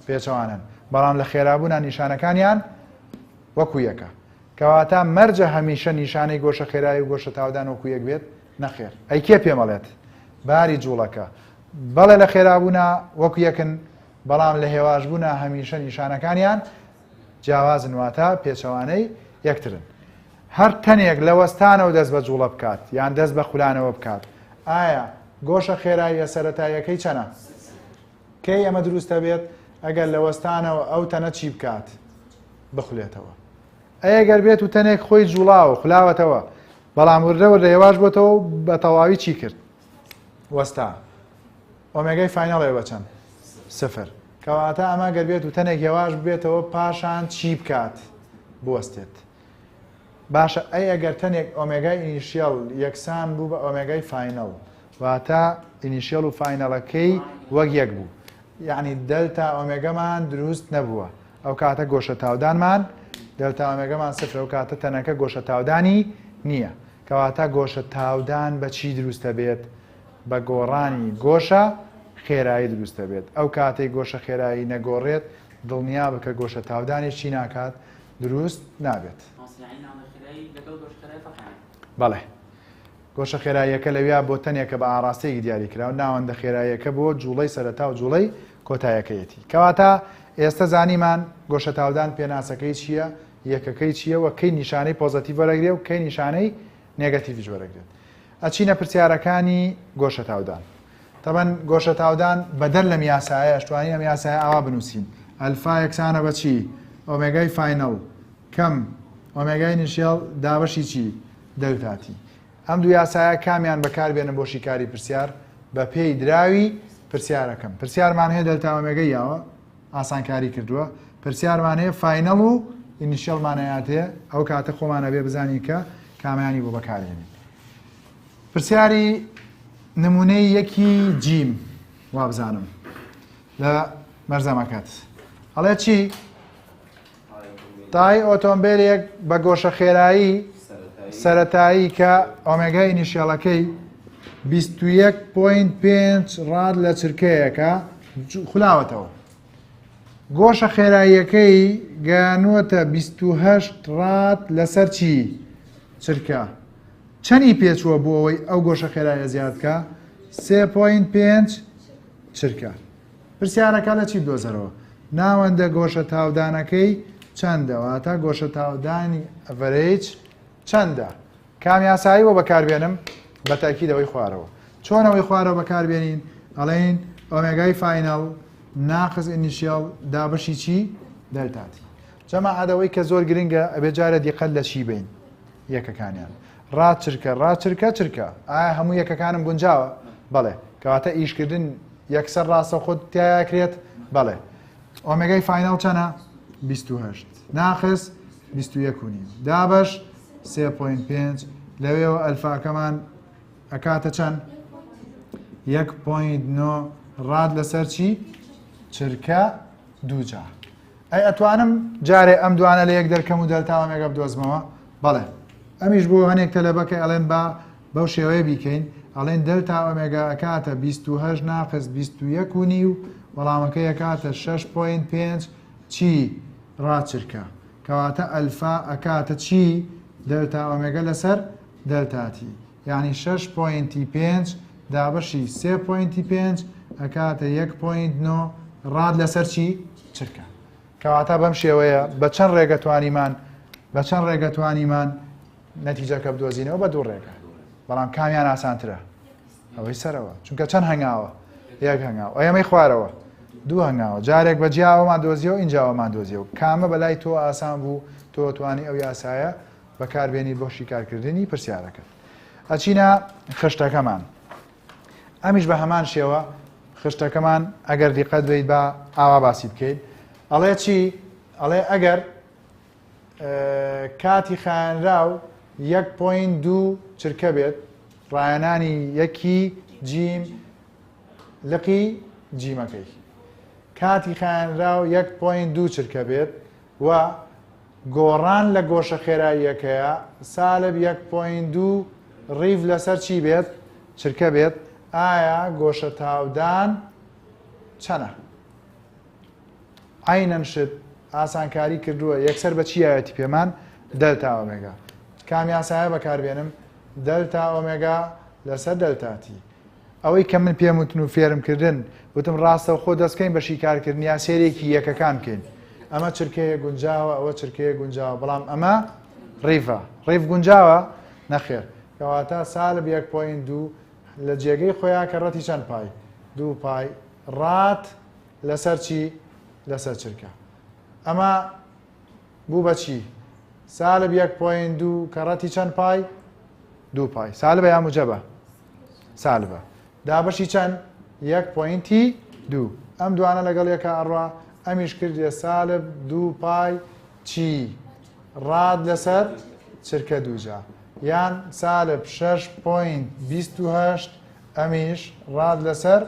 A: پێچەوانەن. بەڵام لە خێرابوونا نیشانەکانیان وەکو یەکە. کەواتە مەرجە هەمیشە نیشانەی گۆشە خێرایی و گۆشە تاودان وەکو یەک بێت؟ نەخێر. ئەی کێ پێمەڵێت؟ باری جووڵەکە. بەڵێ لە خێرابوونا وەکو یەکن، بەڵام لە هێواشبوونا هەمیشە نیشانەکانیان جیاوازن واتە پێچەوانەی یەکترن. هەر تەنێک لە وەستانەوە دەست بە جوڵە بکات یان دەست بە خولانەوە بکات ئایا گۆشە خێراییە سەرەتاییەکەی چەنە کەی ئەمە دروستە بێت ئەگەر لە وەستانەوە ئەو تەنە چی بکات بخولێتەوە ئەگەر بێت و تەنێک خۆی جوڵاوە خولاوەتەوە بەڵام وردەوە لە هێواش بۆتەوە بە تەواوی چی کرد وەستا ئۆمێگای فینەڵێ بەچەند سفر کەواتە ئەمە گەر بێت و تەنێک هێواش بێتەوە پاشان چی بکات بوەستێت باشە ئەی ئەگەر تەنێک ئۆمێگای ئینیشیەڵ یەکسان بوو بە ئۆمێگای فاینەڵ واتە ئینیشیەڵ و فاینەڵەکەی وەک یەک بوو یعنی دەلتا ئۆمێگەمان دروست نەبووە ئەو کاتە گۆشە تاودانمان دەلتا ئۆمێگەمان سفرە و کاتە تەنەکە گۆشە تاودانی نییە کەواتە گۆشە تاودان بە چی دروستە بێت بە گۆڕانی گۆشە خێرایی دروستە بێت ئەو کاتەی گۆشە خێرایی نەگۆڕێت دڵنیا بکە گۆشە تاودانێکی ناکات دروست نابێت. بەڵێ. گۆشە خێراییەکە لەویا بۆ تەنێکە بە ئاڕاستەیەکی دیاریکراو، ناوەندە خێراییەکە بۆ جووڵەی سەرەتا و جووڵەی کۆتایەکەیەتی. کەواتە ئێستە زانیمان گۆشە تاودان پێناسەکەی چییە، یەکەکەی چییە و کەی نیشانەی پۆزەتیڤ وەرەگرێ و کەی نیشانەی نێگەتیڤیش وەرەگرێت. ئەچینە پرسیارەکانی گۆشە تاودان. تەبەن گۆشەتاودان بەدەر لەم یاسایە ئەشتوانین ئەم یاسایە ئاوا بنووسین ئەلفا یەکسانە بە چی ئۆمێگای فینەڵ کەم ئۆمێگای نیشێڵ دابەشی چی دەلتاتی ئەم دوو یاسایە کامیان بەکاربێنن بۆ شیکاری پرسیار بە پێی دراوی پرسیارەکەم پرسیارمان هەیە دەلتا ئۆمێگای یاوە ئاسانکاری کردووە پرسیارمان هەیە فینەڵ و ئینیشێڵمانەیاتێ ئەو کاتە خۆمانە بێ بزانین کە کامیانی بۆ بەکارێنین پرسیاری نمونەی یەکی جیم وابزانم لە مەرزەمەکەت ئەڵێ چی؟ تای ئۆتۆمبیلێک بە گۆشە خێرایی سەتایی کە ئۆمێگای نیشێڵەکەی 21.5 ڕاد لە چرکەیەکە خولاوەتەوە گۆشە خێراییەکەی گەیانووەتە بیست و هەشت ڕاد لەسەر چی؟ چرکە. چەنی پێچووە بۆ ئەوەی ئەو گۆشە خێرایە زیاد بکە؟ سێ پۆینت پێنج چرکە. پرسیارەکە لە چی بدۆزەرەوە؟ ناوەندە گۆشە تاودانەکەی چەندە؟ واتە گۆشە تاودانی ئەڤەرەیج چەندە؟ کام یاسایی بۆ بەکاربێنم بە تاکید ئەوەی خوارەوە چۆن ئەوەی خوارەوە بەکاربێنین ئەڵین ئۆمێگای فینەڵ ناقز ئینیشیال دابشی چی دەلتاتی جەما عادەوەی کە زۆر گرنگە ئەبێ جارە دیقەت لە چی بین یەکەکانیان ڕاچرکە ڕاچرکە چرکە ئایا هەموو یەکەکانم گونجاوە بەڵێ کەواتە ئیشکردن یەکسەر ڕاستە خۆت تیاکرێت بەڵێ ئۆمێگای فاینەڵ چەنە؟ بیست و هەشت ناقس بیست و یەک و نیم دابەش سێ پۆین پێنج لەوێەوە ئەلفاکەمان ئەکاتە چەند؟ یەک پۆین نۆ ڕاد لەسەر چی؟ چرکە دووجا ئەی ئەتوانم جارێ ئەم دوانە لە یەک دەرکەم و دەلتا ئۆمێگا بدۆزمەوە بەڵێ ئەمیش بۆ هەنێک تەلەبەکە ئەڵێن با بەو شێوەیە بیکەین ئەڵێین دەلتا ئۆمێگا ئەکاتە بیست و هەشت ناقس بیست و یەک و نیو وەڵامەکەی ئەکاتە شەش پۆینت پێنج چی ڕاچرکە کەواتە ئەلفا ئەکاتە چی دەلتا ئۆمێگا لەسەر دەلتاتی یعنی شەش پۆینتی پێنج دابەشی سێ پۆینتی پێنج ئەکاتە یەک پۆینت نۆ ڕاد لەسەر چی چرکە کەواتە بەم شێوەیە بە چەند ڕێگەتوانیمان بە چەند ڕێگەتوانیمان نەتیجەکە بدۆزینەوە بە دوو ڕێگە بەڵام کامیان ئاسانترە ئەوەی سەرەوە چونکە چەند هەنگاوە یەک هەنگاو ئەمەی خوارەوە دوو هەنگاوە جارێک بە جیاوەمان دۆزیەوە ئینجاوەمان دۆزیەوە کامە بەلای تۆ ئاسان بوو تۆ توانی ئەو یاسایە بەکاربیێنی بۆ شیکارکردنی پرسیارەکەت ئەچینە خشتەکەمان ئەمیش بە هەمان شێوە خشتەکەمان ئەگەر دیقەت بیت بە ئاوا باسی بکەیت ئەڵێ چی ئەڵێ ئەگەر کاتی خایەنراو یەک پۆین دوو چرکە بێت ڕایەنانی یەکی جیم لقی جیمەکەی کاتی خایەنراو یەک پۆین دوو چرکە بێت و گۆڕان لە گۆشە خێراییەکەیە سالب یەک پۆین دوو ڕیڤ لەسەر چی بێت چرکە بێت ئایا گۆشە تاودان چەنە؟ عەینەن شت ئاسانکاری کردووە یەکسەر بە چی یاوێتی پێمان دەلتا ئۆمێگا کام یاسایە بەکاربێنم دەلتا ئۆمێگا لەسەر دەلتاتی ئەوەی کە من پێم وتن و فێرم کردن وتم ڕاستە خۆ دەستکەین بە شیکارکردن یا سێرێکی یەکەکان بکەین ئەمە چرکەیە گونجاوە ئەوە چرکەیە گونجاوە بەڵام ئەمە ڕیڤە ڕیف گونجاوە نەخێر کەواتە سالب یەک پوین دوو لە جێگەی خۆیان کە ڕەتی چەند پای دوو پای ڕات لەسەر چی لەسەر چرکە ئەمە بوو بەچی سالب یەک پۆین دوو کە ڕەتی چەند پای دوو پای سالبە یا مجەبە سالبە دابەشی چەند یەک پۆینتی دوو ئەم دوانە لەگەڵ یەکە ئەڕوا ئەمیش کردێ سالب دوو پای چی ڕاد لەسەر چرکە دووجا یان سالب 6 پوین 28 ئەمیش ڕات لەسەر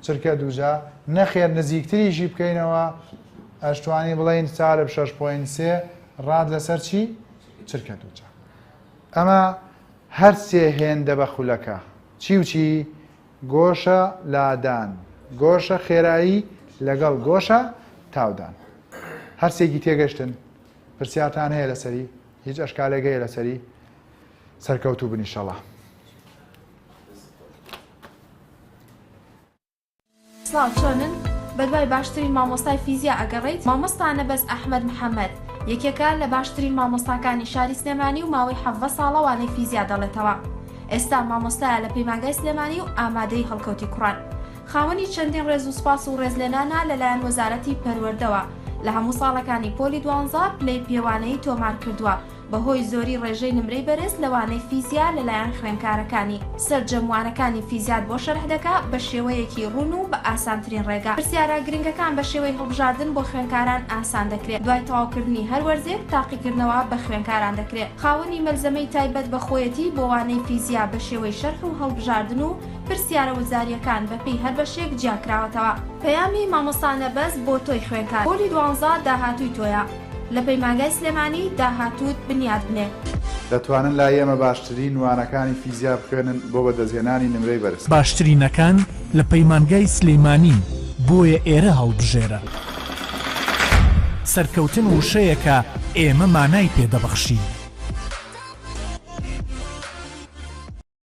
A: چرکە دووجا، نەخێر نزیکتریشی بکەینەوە ئەشتوانی بڵێین سالب شەش پۆینت سێ ڕات لەسەر چی؟ چرکە دووجا. ئەمە هەر سێ هێندە بە خولەکە چی و چی؟ گۆشە لادان، گۆشە خێرایی لەگەڵ گۆشە تاودان. هەرسێکی تێگەشتن؟ پرسیارتان هەیە لەسەری؟ هیچ ئەشکالێک هەیە لەسەری؟ سەرکەوتوو بن ئیشەڵا.
B: سڵاو چۆنن بەدوای باشترین مامۆستای فیزیا ئەگەڕیت مامۆستا نەبەز ئەحمەد محەمەد یەکێکە لە باشترین مامۆستاکانی شاری سلێمانی و ماوەی حەڤە ساڵە وانەی فیزیا دەڵێتەوە ئێستا مامۆستایە لە پەیمانگای سلێمانی و ئامادەی هەڵکەوتی کوڕان خاوەنی چەندین ڕێز و سپاس و ڕێزلێنانە لەلایەن وەزارەتی پەروەردەوە لە هەموو ساڵەکانی پۆلی دوانزە پلەی پێوانەیی تۆمار کردووە بەهۆی زۆری ڕێژەی نمرەی بەرز لە وانەی فیزیا لەلایەن خوێنکارەکانی، سەرجەم وانەکانی فیزیات بۆ شەرح دەکا بە شێوەیەکی ڕوون و بە ئاسانترین ڕێگا. پرسیارە گرنگەکان بە شێوەی هەڵبژاردن بۆ خوێنکاران ئاسان دەکرێ. دوای تەواوکردنی هەر وەرزێک تاقیکردنەوە بە خوێنکاران دەکرێ. خاوەنی مەلزەمەی تایبەت بە خۆیەتی بۆ وانەی فیزیا بە شێوەی شەرح و هەڵبژاردن و پرسیارە وزارییەکان بە پێی هەر بەشێک جیاکراوەتەوە. پەیامی مامۆستا نەبەز بۆ تۆی خوێنکار. پۆلی دوانزە داهاتووی تۆیە. لە پەیمانگای سلێمانی داهاتووت بنیات بنێ. دەتوانن لای
A: ئێمە باشترین وانەکانی فیزیا بخوێنن بۆ بەدەستهێنانی نمرەی بەرز. باشترینەکان
C: لە پەیمانگای سلێمانین بۆیە ئێرە هەڵبژێرە. سەرکەوتن وشەیەکە ئێمە مانای پێ دەبەخشین.